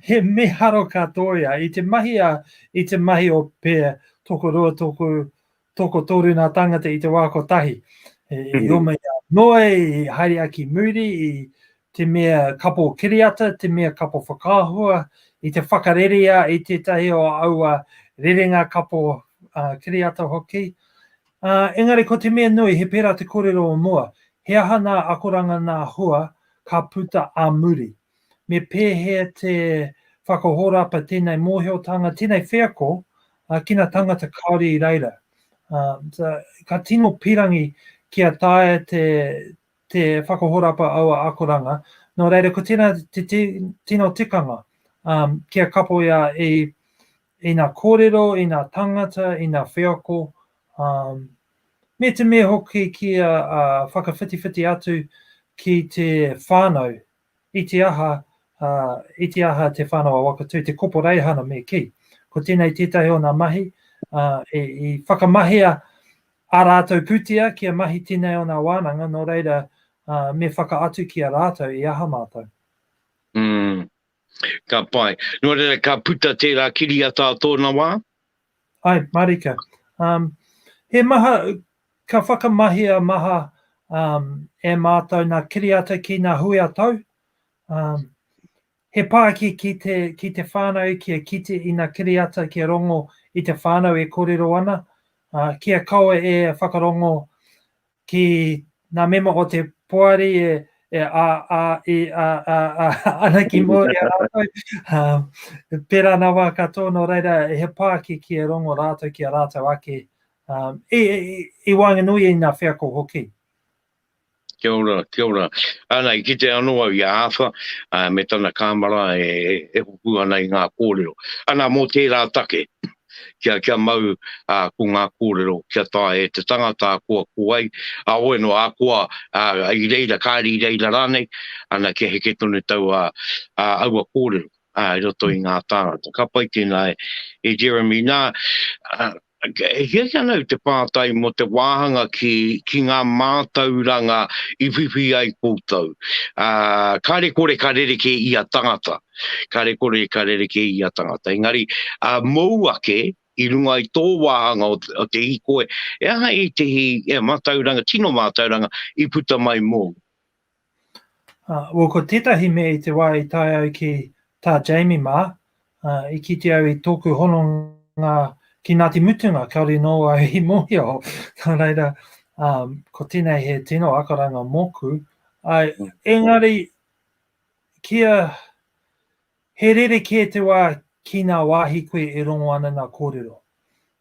he miharo ka to ia. I te mahi a, i te mahi o pe toko rua, toko, toko toru na tangata i te wa kotahi. E, mm -hmm. i oma ia noe, i haere aki muri, i, te mea kapo kiriata, te mea kapo whakaahua, i te whakarerea i tētahi o aua rerenga kapo uh, kiriata hoki. Uh, engari ko te mea nui, he pērā te kōrero o mua, he aha nā akoranga nā hua ka puta a muri. Me pēhea te whakahorapa tēnei mōhiotanga, tēnei wheako, uh, ki nā tangata Kāori i reira. Uh, so, ka tino pirangi kia taia te, te whakahorapa aua akoranga, nō reira ko tēnā te tino tikanga, um, kia kapoia i, i ngā kōrero, i ngā tangata, i ngā wheako, um, me te me hoki kia uh, whakawhitiwhiti atu ki te whānau I te aha, ā, i te aha te whānau a Wakatū, te koporeihana me kī. Ko tēnei tētahi o nā mahi, ā, i, i whakamahia ā rātou pūtea kia mahi tēnei o nā wānanga, nō reira, ā, me whakaatu ki a rātou i aha mātou. Ū, ka pai. Nō reira, ka puta tērā kiriata ā tōna wā. Hi, marika. Um, he maha, ka whakamahia maha um, e mātou nā kiriata ki nā hui a tau. Um, he pāki ki te, ki te whānau ki a kite i nā kiriata ki a rongo i te whānau e kōrero ana, uh, ki a kaua e whakarongo ki ngā mema o te poari e, e a, a, e a, a, a, ana ki mō i a rātou. Um, pērā nā wā katoa, nō reira, he pāki ki e rongo rātou ki a rātou ake, um, i, i, i wānganui i ngā wheako hoki. Kia ora, kia ora. Ana, i kite anō au i a Āwha, uh, me tana kāmara e, e, e hoku ana i ngā kōrero. Ana, mō tērā take, kia, kia mau ā, ko ngā kōrero kia taea e te tangata ākoa ko ai, ā, oe noa ākoa, ā, i reira, kāre i reira rānei, ana kia heke tonu taua, ā, aua kōrero, ā, i roto i ngā tāngata. Ka pai tēnā e, e Jeremy. Nā, ā, e hia ki ana au te pātai mō te wāhanga ki, ki ngā mātauranga i whiwhi ai koutou. Ā, kāre kore ka rerekē ia tangata. kare kore ka rereke i a tangata. Engari, a mou ake, i runga i tō wāhanga o, o te hikoe, e aha i te hi, e mātauranga, tino mātauranga, i puta mai mou? Uh, well, ko tētahi mea i te wā i tae au ki tā Jamie mā, uh, i kite au i tōku hononga ki Ngāti Mutunga, kaore nō au i mōhio. Nā reira, um, ko tēnei he tino akaranga mōku. Uh, engari, Kia he rerekē te wā ki ngā wāhi koe e rongo ana ngā kōrero.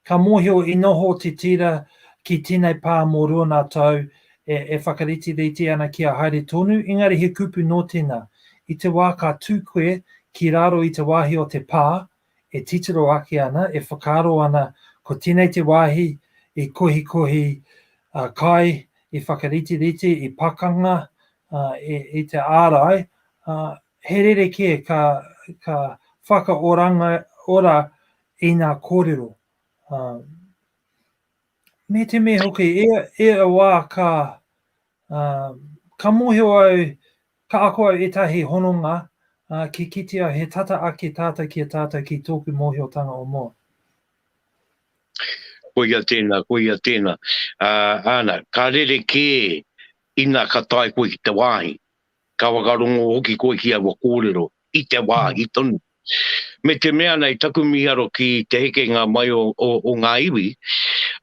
Ka mōhio i noho te tira ki tēnei pā mō rua ngā tau e whakariterite ana kia haere tonu, engari he kupu nō tēnā, i te wā ka tū koe ki raro i te wāhi o te pā e titiro ake ana, e whakaaro ana ko tēnei te wāhi i kohikohi kai, i whakariterite, i pakanga, uh, e, e te ārai, uh, he rere kē ka, ka whakaoranga ora i ngā kōrero. Uh, me te me hoki, e, e a wā ka, uh, ka mōhio au, ka ako au etahi hononga uh, ki kiti au he tata ake tātou ki a tātou ki tōku mōhiotanga o mua. Koia tēnā, koia tēnā. Uh, āna, ka rere kē Ina ka tae koe ki te wāhi, ka whakarongo hoki koe ki aua kōrero, i te wāhi tonu. Me te mea nei taku miharo ki te hekenga mai o, o, o ngā iwi,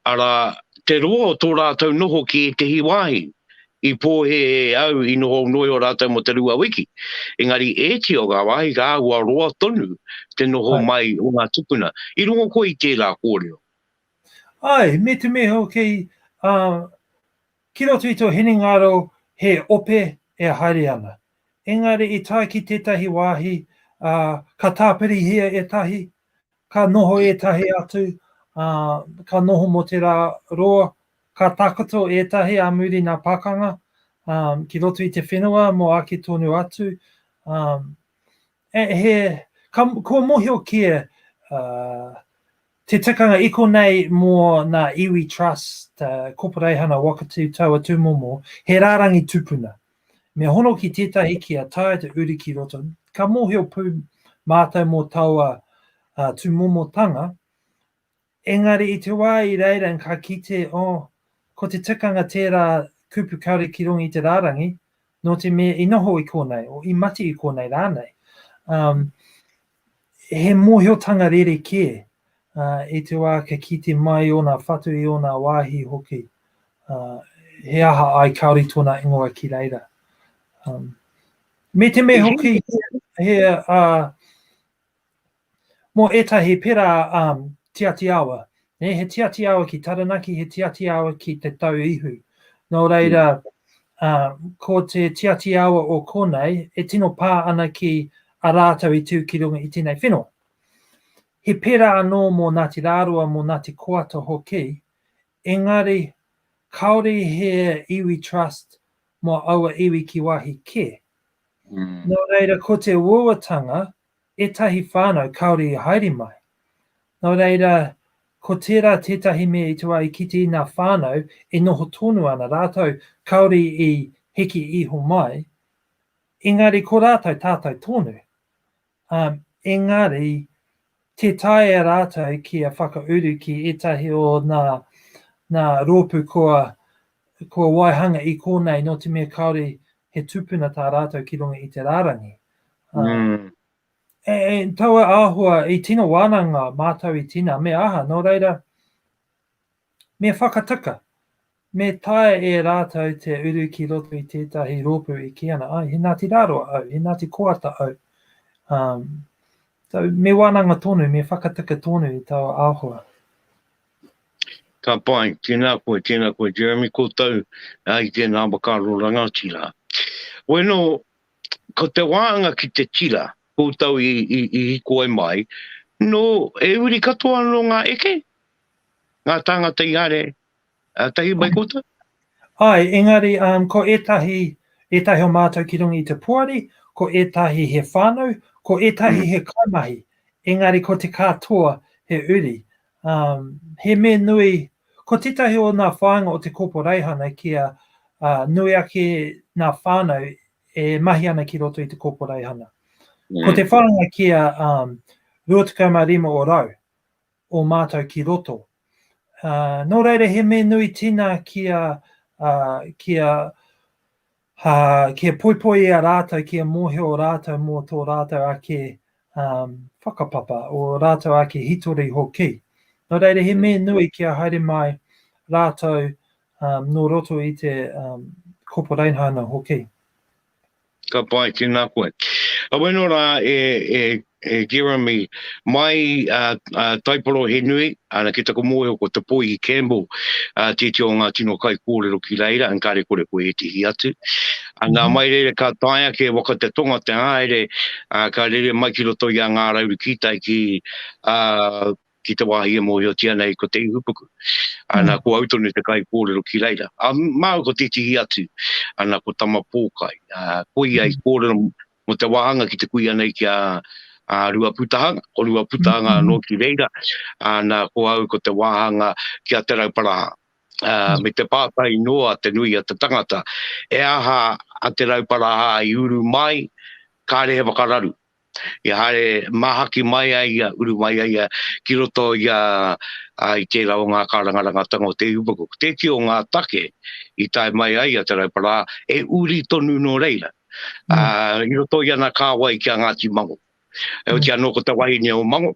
arā, te roa o tō rātou noho ki ētehi wāhi. I pōhē e au i noho noio rātou mō te rua wiki, engari ēti o ngā wāhi ka āhua roa tonu te noho Ai. mai o ngā tupuna. I rongo koe i tērā kōrero? Āe, me te mea hoki, ā, Ki roto i tō hinengaro he ope e haere ana. Engari i tae ki tētahi wāhi, ā, ka tāpirihia ētahi, ka noho ētahi atu, ā, ka noho mō te rā roa, ka takoto ētahi ā muri nā pakanga, ā, ki roto i te whenua mō ake tonu atu, ā, he, ka, kua mohio kē, ā, Te tikanga iko nei mō nā Iwi Trust, Koporeihana Wakatiw Taua Tūmomo, he rārangi tupuna. Me hono ki tētahi kia taea te uri ki roto, ka mōhio pū mātou mō taua tūmomotanga, engari i te wā i reira ka kite, oh, ko te tikanga tērā kupu kāore ki runga i te rārangi, Nō te mea i noho i kōnei, o i mati i kōnei rānei, um, he mōhiotanga rere kē uh, i te wā ka kite mai ōna whatu i ōna wāhi hoki. Uh, he aha ai kāori tōna ingoa ki reira. Um, me te me hoki, he, uh, Mō ētahi pērā ā Tiati Awa, nē, he Tiati Awa ki Taranaki, he Tiati Awa ki Te Tau Ihu. Nō reira, ā, ko te Tiati Awa o konei e tino pā ana ki a rātou i tū ki runga i tēnei whenua. He pērā anō mō Ngāti Rāroa, mō Ngāti Koata hoki, engari kāore he iwi trust mō aua iwi ki wāhi kē. Nō reira, ko te uauatanga Ētahi whānau kāore i haere mai. Nō reira, ko tērā tētahi mea i te wā i kite i ngā whānau e noho tonu ana rātou kāore i heke iho mai, engari ko rātou tātou tonu. Ā, engari, tē taea rātou kia whakauru ki ētahi o ngā, ngā rōpū kua, kua waihanga i kōnei nō te mea kāore he tupuna tā rātou ki runga i te rārangi. Mm. E, e taua āhua, i tino wānanga mātou i tina, me aha, nō reira, me whakataka, me tae e rātou te uru ki roto i tētahi rōpū i ki ana, ai, he nāti rāroa au, he nāti koata au. Um, so, me wānanga tonu, me whakataka tonu i taua āhua. Ka pai, tēnā koe, tēnā koe Jeremy koutou i tēnā whakaaro rangatira. Bueno, ko te wāanga ki te tira, koutou i hikoi mai, no e uri katoa anō ngā eke, ngā tāngata i haere tahi mai koutou? Āe, engari ko ētahi, ētahi o mātou ki runga i te poari, ko ētahi he whānau, ko ētahi he kaimahi, engari ko te katoa he uri. Um, he me nui, ko titahi o nā whāinga o te kōporeihana kia uh, nui ake nā whānau e mahi ana ki roto i te kōporeihana. Mm. Ko te whāinga kia um, 25 o rau o mātou ki roto. Uh, nō reira he me nui tina kia, uh, kia Ha, kia poipoi i a rātou, kia mōhio rātou mō tō rātou ake um, whakapapa, o rātou ake hitori hoki. Nō reira, he mea nui kia haere mai rātou um, nō roto i te um, koporainhana hoki. Ka pai, tēnā koe. Aweno rā e, e He Jeremy, mai a, a Taiporo he nui, ana ki taku mōhio ko Te Poihi Campbell, a tēti o ngā tino kai kōrero ki reira, an kāre kore koe e tihi atu. Ana mm -hmm. mai reira ka tae ake waka te tonga te haere, a, ka rere mai ki roto i a ngā rauru ki tai ki, a, ki te wāhi e mōhiotia nei ko te ihupuku. Ana, mm. ko au tonu te kai kōrero ki reira. A māu ko te tihi atu, ana ko tama pōkai. A, ko ia i mm. kōrero mō te wāhanga ki te kuia nei ki a Ruaputahanga, ko Ruaputahanga anō ki reira, nā, ko au ko te wāhanga ki a Te Rauparaha. Me te pātai noa te nui a te tangata, e aha a Te Rauparaha i uru mai, kāre he whakararu. Ia haere māhaki mai a ia, uru mai a ia ki roto i a, i tērā o ngā kārangarangatanga o Te Ihupuku. Ko tēti o ngā take i tae mai ai a Te Rauparaha, e uri tonu nō reira. i roto i ana kāwai ki a Ngāti Mango. Heoti anō ko te wahine o Mango,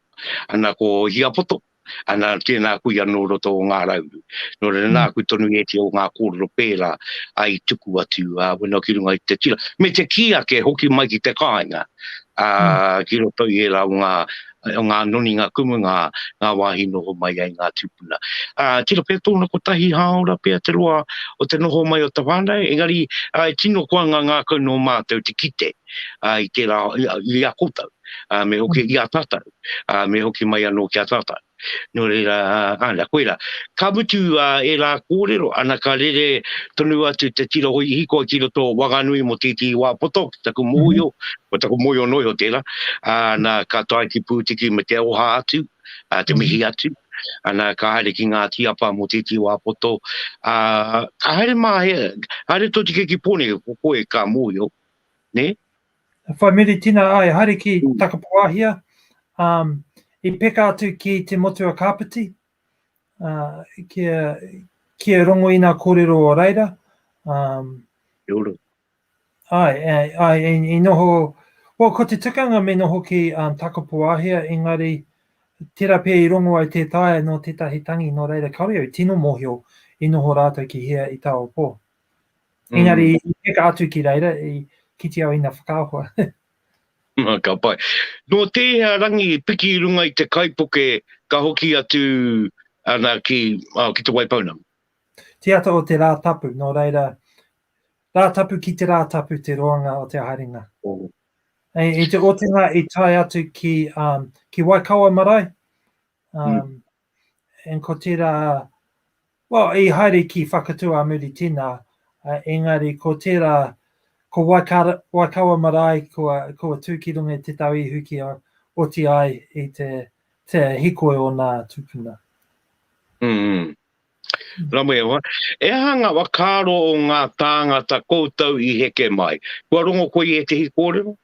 ana ko Hiapoto, ana tēnā kui anō o roto o Ngā Rauru. Nō reira nā kui tonu e te o ngā kōrero pērā ai tuku atu a wena ki runga i te tira. Me te kī ake hoki mai ki te kāinga ki roto i ērā o ngā o ngā noni, ngā kumu, ngā, ngā wāhi noho mai ai ngā tūpuna. Ā, tino pea tōna kotahi hāora pea te roa o te noho mai o te whānau, engari, ā, e tino koanga ngākau nō mātou te kite, ā, i tērā, i, i a koutou, ā, me hoki i a tātou, ā, me hoki mai anō ki a tātou. Nō reira, ā, nā, koirā. Ka mutu, ā, ērā kōrero, ana ka rere tonu atu te tira hōihiko ki roto o Wanganui mō tētehi wā poto ki taku mōhio, Ko taku moio noa iho tēnā, ā, nā, ka tae ki Pūtiki me te aroha atu, ā, te mihi atu, ā, nā, ka haere ki ngā tīapa mō tētī wā poto, ā, ka haere mā, he, haere tō tika ki Pōneke, ko koe ka mōhio, nē? Whai muri tina ai, haere ki mm. Takapoahia, um, i peka atu ki te motu a Kāpiti, uh, ki, a, ki a rongo ina kōrero o reira, um, Ae, ae, i noho, ko, ko te tukanga me noho ki um, Takapoahea, engari, tera pea i rongo ai te taea no tetahi tangi, no reira kaore au tino mohio i noho ratou ki hea i Taopo. Mm. Engari, mm. i peka atu ki reira, i kiti au ina whakaahua. ka pai. No tēhea rangi piki i runga i te kaipoke ka hoki atu ana ki, uh, ki te Waipounamu? Te ata o te rā tapu, nō reira, Rātapu ki te Rātapu te roanga o te haerenga. I te otinga i tae atu ki, um, ki Waikawa marae, um, mm. and ko tērā, well, i haere ki Whakatū a Muri Tina, uh, engari ko tērā, ko Waikawa, Waikawa marae, ko, ko tū ki runga te tau ihu ki a oti ai i te, te hikoi o nā tupuna. Mm, mm. Ramoeoa, E aha nga whakaaro o nga tāngata koutou i heke mai? Kua rongo koe i ētehi kōrero?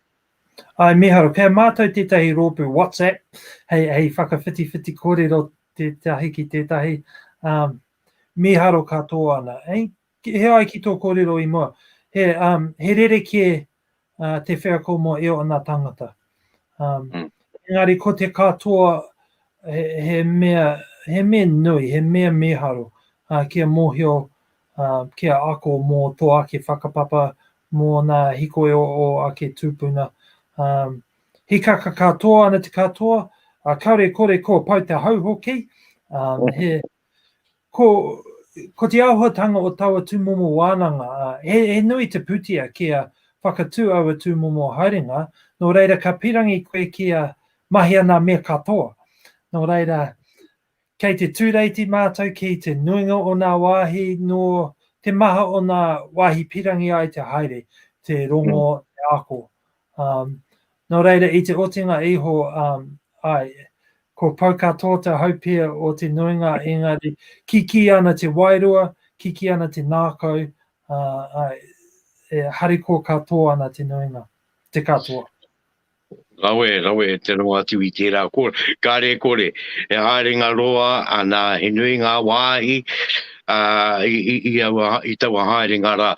Ae miharo, kei a mātou tētahi rōpū WhatsApp hei hei whakawhitiwhiti kōrero tētahi ki tētahi, um, miharo katoa ana, eh? Ki hea ai ki tō kōrero i mua? He, um, he rerekē uh, te wheako mō e ona tangata. Um, mm. Engari ko te katoa he, he, mea, he mea nui, he mea mīharo uh, kia mōhio, uh, kia ako mō tō ake whakapapa, mō nā hikoi o, o ake tūpuna. Um, hikaka katoa ana te katoa, uh, kaore kore kua pau te hau hoki, um, he, Ko, ko te āhuatanga o taua tūmomo wānanga, he, he nui te pūtea kia whakatū aua tūmomo haerenga, nō reira ka pīrangi koe kia mahi ana me katoa. Nō reira, kei te tūreiti mātou ki te nuinga o nā wāhi nō te maha o nā wāhi pīrangi ai te haere, te rongo, te ako, Um, nō reira, i te otinga iho, um, ai, ko Pauka tō te haupia o te nuinga, engari, kiki ana te wairua, kiki ana te nākau, uh, ai, e hariko katoa ana te nuinga, te katoa. Rawe, rawe, e te rongo atu i tērā kore. Kāre kore, e haere ngā roa, anā, he nui ngā wāhi uh, i, i, i, aua, i taua haere ngā rā.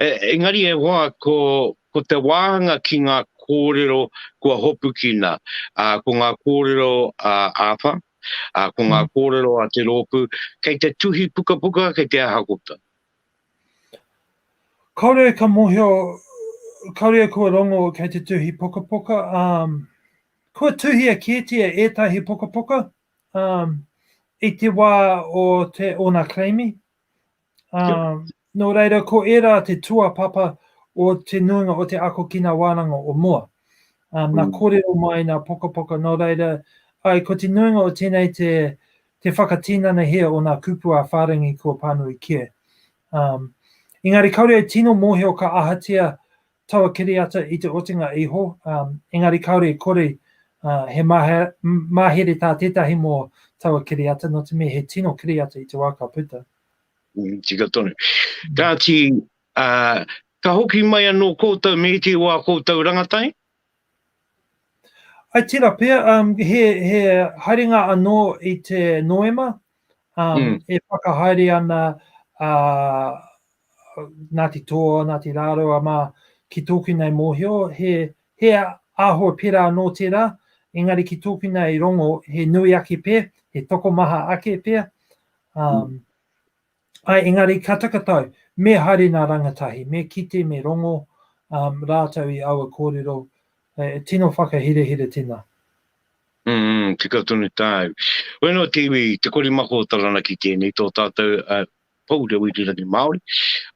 E, engari e hoa ko, Ko te wāhanga ki ngā kōrero kua hopukina, ko ngā kōrero āwha, ko ngā kōrero a te rōpū, kei te tuhi pukapuka, kei te aha kota. Kāore ka mōhio, kāore kua rongo kei te tuhi pukapuka, kua tuhia kētia ētahi pukapuka i te wā o te ōna claim-i, Ā, nō reira, ko ērā te tuapapa o te nuinga o te ako ki ngā wānanga o mua. Ā, nā kōrero mai, nā pokapoka, nō reira, āe, ko te nuinga o tēnei te, te whakatinanahia o ngā kupu ā-whārangi kua pānui kē. Ā, engari kāore au tino mōhio ka ahatia taua kiriata i te otinga iho, ā, engari kāore i kore, ā, he mahe, mahere tā tētahi mō taua kiriata, nō te mea he tino kiriata i te wā ka puta. Mm, tika tonu. Kāti, ā, ka hoki mai anō koutou me iti o ā koutou rangatai? I tira pea, um, he, he haerenga anō i te Noema, um, mm. e whakahaere ana uh, Ngāti Toa, Ngāti Rāroa mā, ki tōku nei mōhio, he, he aho pera anō tērā, engari ki tōku nei rongo, he nui ake pē, he tokomaha ake pē. Um, Āe, engari ka taka tau, me haere nā rangatahi, me kite, me rongo rātou i aua kōrero, e tino whakahirahira tēnā. Umm, tika tonu tāu. Koe anō te iwi, te korimako o Taranaki tēnei, tō tātou pou reo irirangi Māori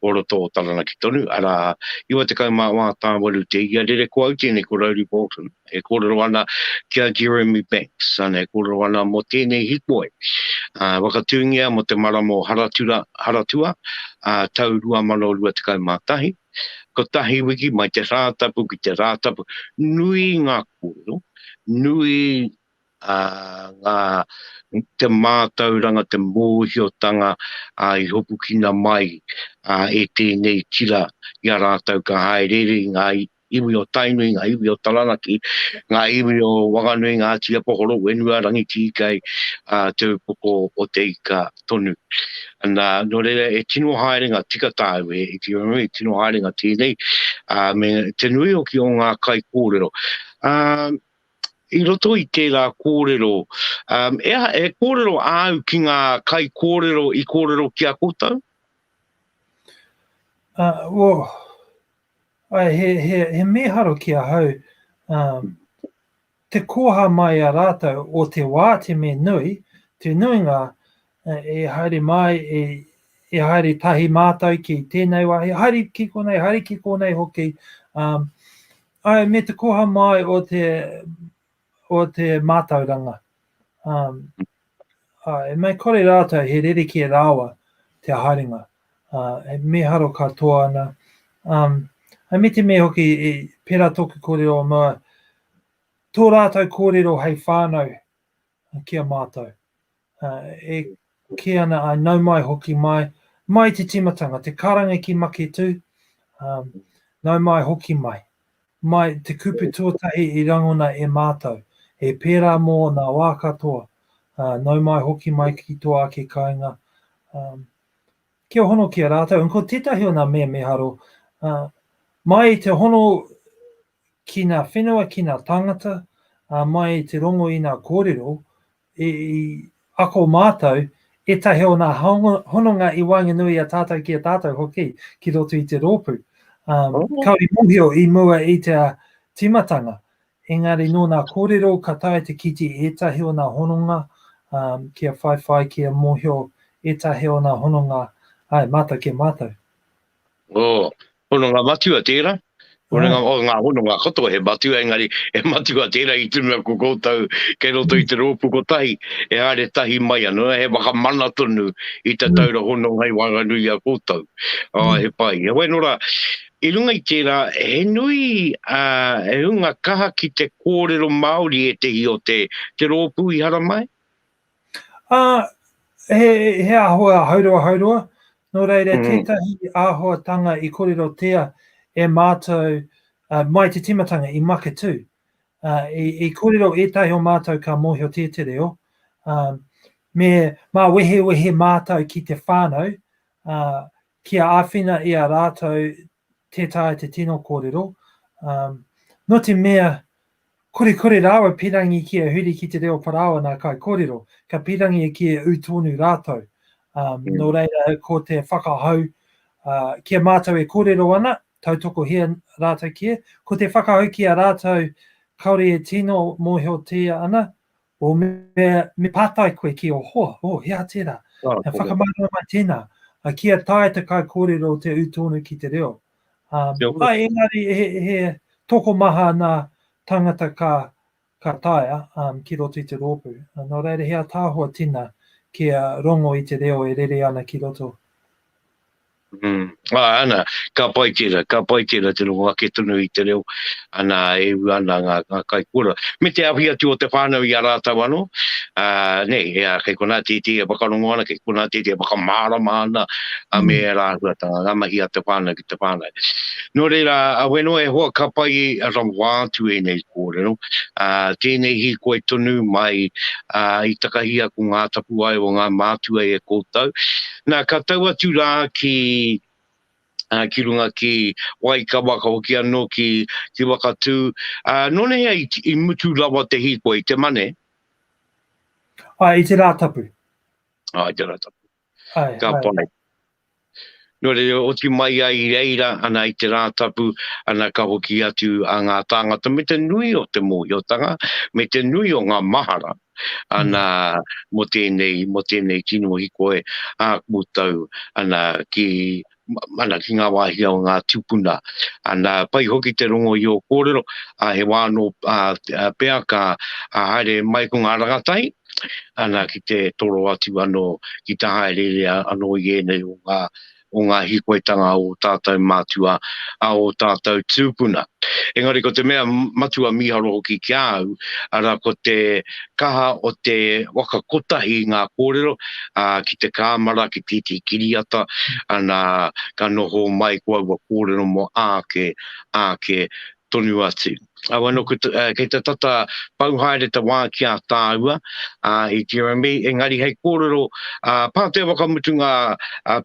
o roto o Taranaki tonu, arā, 94 te ia rere, ko au tēnei, ko Rowley Bolton. e kōrero ana ki a Jeremy Banks, āna e kōrero ana mō tēnei hikoi, ā, whakatūngia mō te marama o Haratura, Haratua, ā, tau 2021. Kotahi wiki mai te Rātapu ki te Rātapu, nui ngā kōrero, nui, ā, ngā, te mātauranga, te mōhiotanga, ā, i hopukina mai, ā, e tēnei tira i a rātou ka hāereere i ngā, iwi o Tainui, ngā iwi o Taranaki, ngā iwi o Wanganui, Ngāti Apohoro, Whenua, Rangitīkei, ā, te upoko o Te Ika tonu. Nā, nō reira, e tino haere ngā tika tāu, e Itiranui, e tino haere ngā tēnei, ā, me te nui hoki o ngā kaikōrero. Ā, i roto i tērā kōrero, ā, e aha, e kōrero āu ki ngā kaikōrero i kōrero ki a koutou? Ā, o, Ae, he, he, he mīharo ki ahau, um, te koha mai a rātou o te wā te me nui, te nuinga e, e haere mai, e, e haere tahi mātou ki tēnei wā, e haere ki konei, haere ki konei hoki, um, ai, me te koha mai o te o te mātauranga. Um, uh, e mai kore rātou he rerekē rāwa te haerenga. Uh, e meharo katoa ana. Um, a me te me hoki, e, pera toku kōrero o mua, tō rātou kōrero hei whānau ki a mātou. Uh, e kē ana, I nau mai hoki mai, mai te timatanga, te karanga ki make tū, um, nau mai hoki mai. Mai te kupu tuatahi i rangona e mātou, e pērā mō nā wā katoa, uh, nau mai hoki mai ki tō ake kāinga, um, kia hono ki a rātou. Un, ko tētahi o nā mea me haro, uh, mai i te hono ki nā whenua, ki nā tāngata, uh, mai i te rongo i nā kōrero, I ako mātou ētahi o ngā hononga i wāngenui i a tātou ki a tātou hoki ki roto i te rōpū. Um, oh. Kauri mōhio i mua i te timatanga, engari nō nā kōrero ka tae te kiti ētahi o ngā hononga um, ki a whaiwhai, ki a mōhio ētahi o ngā hononga ai mātou ki a mātou. Oh, Hononga matua tērā, hononga, oh, ngā hononga katoa he matua, engari he matua tērā i tunu aku koutou kei roto i te rōpu kotahi, e haere tahi mai ana, he whakamana tonu i te taura hononga i waenganui i a koutou. Oh, he pai. Heoi anō rā, i runga i tērā, he nui uh, he hunga kaha ki te kōrero Māori ētehi o te, te rōpu i haramai? Uh, he, he āhua hauroa hauroa, nō reira mm. tētahi āhuatanga i kōrero tea e mātou uh, mai te timatanga i Maketū. Uh, i, i kōrero ētahi o mātou ka mōhio tē te reo, uh, me mā wehe wehe mātou ki te whānau, uh, ki a āwhina i a rātou tē taea te tino kōrero, um, no te mea kore kore rāua pirangi ki a huri ki te reo parao ana kai kōrero, ka pirangi e ki e ū tōnu rātou. Um, mm. Nō reira, ko te whakahau, uh, ki a mātou e kōrero ana, tautoko hea rātou ki e, ko te whakahau ki a rātou, kaore e tino mōhio tēa ana, O me, me pātai koe ki o hoa, oh, he aha tērā? Oh, e whakamārama mai tēnā, a kia tae te kai kōrero o te ū tōnu ki te reo. Um, ai, engari, he, he toko maha nā tangata ka, ka taea um, ki roto i te rōpū. Uh, nō reira, he atahoa tina kia rongo i te reo e rere ana ki roto. Mm. Ah, ana, ka pai tērā, ka pai tērā te rongo ake tonu i te reo, ana, e u ana ngā, ngā kai kura. Me te awhi atu o te whānau i a rātau anō, uh, nei, ea, kei konā tētē e whakarongo ana, kei konā tētē e whakamārama ana, a me e rāhuatanga, ngā mahi a te whānau ki te whānau. Nō reira, a weno e hoa ka pai a rawa atu e nei kōrero, uh, tēnei hi koe tonu mai uh, i takahia ko ngā tapuae o ngā mātua e koutou, Na, ka tau atu rā ki, ā, ki runga ki Waikawa, ka hoki anō ki, ki Wakatū. Ā, nōnahea i, i mutu rawa te hīkoi, te mane? Āe, i te Rātapu. Ā, i te Rātapu. Āe, ka āe. Ka pai. Nō reira, oti mai ai i reira, ana, i te Rātapu, ana, ka hoki atu a ngā tāngata me te nui o te mōhiotanga, me te nui o ngā mahara, Ana, mo tenei, mo tenei tino hikoe a koutou, ana, ki, ana, ki nga wahi o nga tupuna. Ana, pai hoki te rongo i o korero, a, he wa ano, a, pea ka, a, haere mai ko nga rangatahi, ana, ki te toro atu ano ki te haereere ano i enei o nga, o ngā hīkoitanga o tātou mātua, a o tātou tūpuna. Engari ko te mea matua mīharo hoki ki a au, ara ko te kaha o te waka kotahi i ngā kōrero, ā, ki te kāmara, ki tētehi kiriata, ana, ka noho mai ko aua kōrero mō āke, āke, tonu atu. Au anō kei te tata pau haere te wā ki a tāua, ā, i tira nei, engari hei kōrero Pātea whakamutunga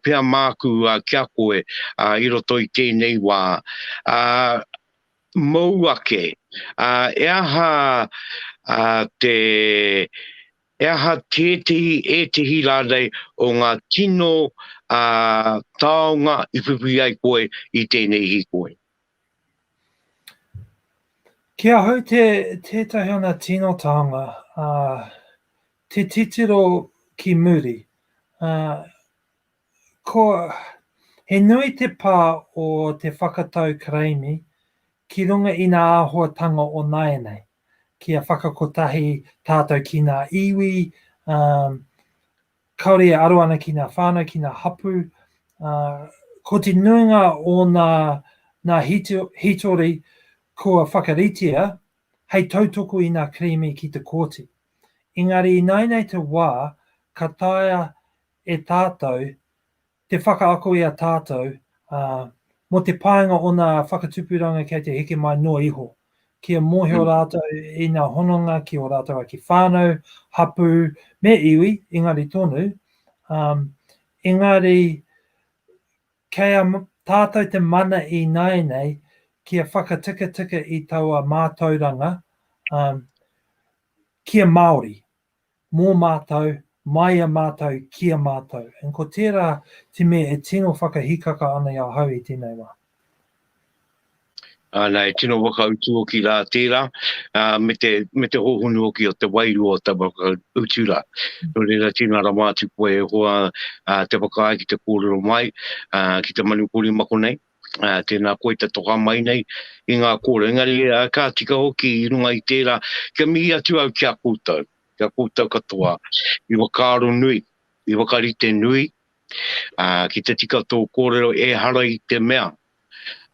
pea māku ki a koe i roto i tēnei wā, ā, mōu ake, ā, e aha te, e aha tētehi, ētehi rānei o ngā tino taonga i whiwhi ai koe i tēnei hīkoi? Ki ahau te tētahi ana tino tānga, te titiro ki muri. Ko, he nui te pā o te whakatau Karaimi ki runga i ngā āhuatanga o nāianei, kia whakakotahi tātou ki ngā iwi, Kāore e aro ana ki ngā whānau, ki ngā hapū, ā, ko te nuinga o ngā, ngā hītori kua whakaritea hei tautoko i ngā kerēme ki te kōti. Engari ināianei te wā ka taea e tātou Te whakaako i a tātou, ā, mō te painga o nā whakatupuranga kei te heke mai noa iho, kia mōhio rātou i nā hononga ki ō rātou ake whānau, hapū, me iwi, engari tonu, ā, engari kei a tātou te mana ināianei kia whakatikatika i taua mātauranga, ā, kia Māori. mō mātou, māia mātou, ki a mātou. And ko tērā te mea e tino whakahikaka ana i ahau i tēnei wā. Āna, e tino whakautu hoki rā tērā, ā, me te, me te hōhonu hoki o te wairua o te whakautu rā. Nō reira, tino rawa atu koe e hoa ā, te whakaae ki te kōrero mai, ā, ki te manupori mako nei. tēnā koe te toka mai nei i ngā kōrero. Engari, ka tika hoki i runga i tērā, kia mihi atu au ki a koutou, ki a koutou katoa, i whakaaro nui, i whakarite nui, uh, ki te tika tō kōrero e hara i te mea,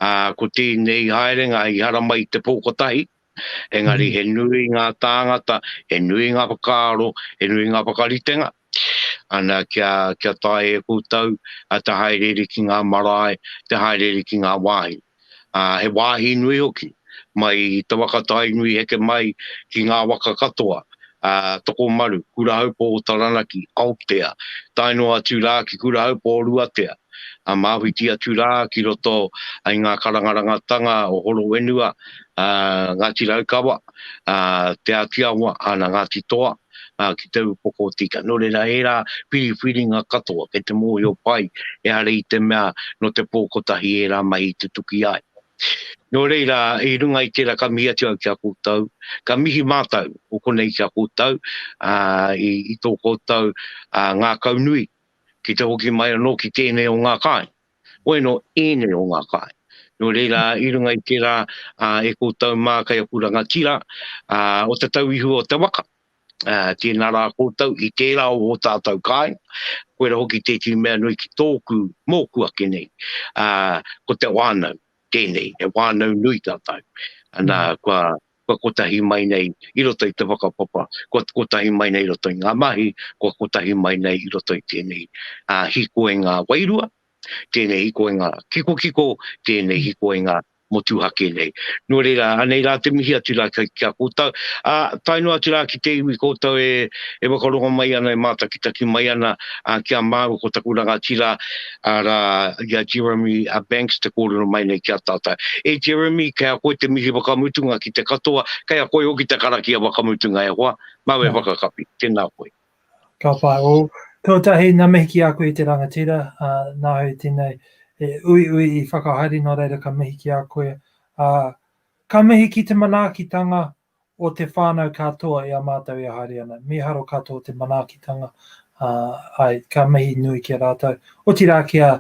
uh, ko tēnei haerenga i hara mai te pōkotahi, Engari he nui ngā tāngata, he nui ngā whakaaro, he nui ngā whakaritenga. Ana kia, kia tae e koutou a te haereere ki ngā marae, te haereere ki ngā wāhi. A, he wāhi nui hoki, mai i te waka Tainui heke mai ki ngā waka katoa, a, Tokomaru, Kurahaupō o Taranaki, Aotea, tae noa atu rā ki Kurahaupō o Ruatea. a Māhuiti atu rā ki roto i ngā karangarangatanga o Horowhenua, a Ngāti Raukawa, a Te Āti Awa, ana Ngāti Toa, a ki te upoko o tika. Nō reira, ērā whiriwhiringa katoa kei te mōhio pai, ehara i te mea nō te pō kotahi ērā mahi i tutuki ai. Nō reira, i runga i tērā ka mihi atu au ki a koutou, ka mihi mātou o konei ki a koutou, i tō koutou ngākaunui ki te hoki mai anō ki tēnei o ngā kāinga. Hoi anō, ēnei o ngā kāinga. Nō reira, i runga i tērā, ā, e koutou mā kei aku rangatira, ā, o te tau i hua o te waka, ā, tēnā rā koutou i tērā o ō tātou kāinga, koirā hoki tētehi mea nui ki tōku, mōku ake nei, ā, ko te whānau, tēnei, he whānau nui tātou. Ana, kua kua kotahi mai nei i roto i te whakapapa, kua kotahi mai nei i roto i ngā mahi, kua kotahi mai nei i roto i tēnei hikoinga wairua, tēnei hikoinga kikokiko, tēnei hikoinga motuhake nei. Nō reira, anei rā te mihi atu rā ki a koutou, ā, tae noa atu rā ki te iwi koutou e whakarongo mai ana, e mātakitaki mai ana ki a māua ko taku rangatira, arā, i a Jeremy Banks te kōrero mai nei ki a tātou. E Jeremy, kei a koe te mihi whakamutunga ki te katoa, kei a koe hoki te karakia whakamutunga e hoa, mau e whakakapi. Tēnā koe. Ka pai, o, tuatahi ngā mihi ki a koe i te rangatira, ā, nā hau tēnei e uiui i whakahaere nō reira ka mihi ki a koe, ā, ka mihi ki te manaakitanga o te whānau katoa i a mātou e haere ana. Mīharo katoa te manaakitanga, ā, āe, ka mihi nui ki a rātou. Otirā ki a,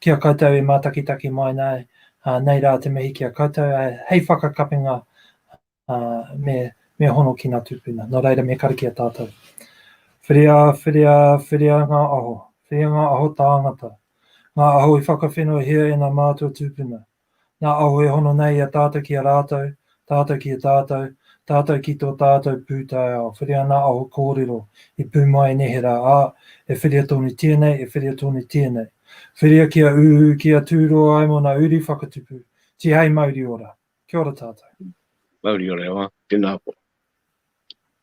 ki a koutou e mātakitaki mai nei, ā, nei rā te mihi ki a koutou, ā, hei whakakapinga, ā, me, me hono ki ngā tūpuna. Nō reira, me karakia tātou. Whiria, whiria, whiria ngā aho, whiria ngā aho tāngata, ngā aho i whakawhenohia e ngā mātua tūpuna, Nā Aho e hono nei i a tātou ki a rātou, tātou ki a tātou, tātou ki tō tātou pūtaiao, whiria nā Aho kōrero i pū mai neherā, ā, e whiria tonu tēnei, e whiria tonu tēnei. Whiria kia uhu, kia tū roa ai mō nā uri whakatupu. Tihei mauri ora. Kia ora tātou. Mauri ora e hoa, tēnā koa.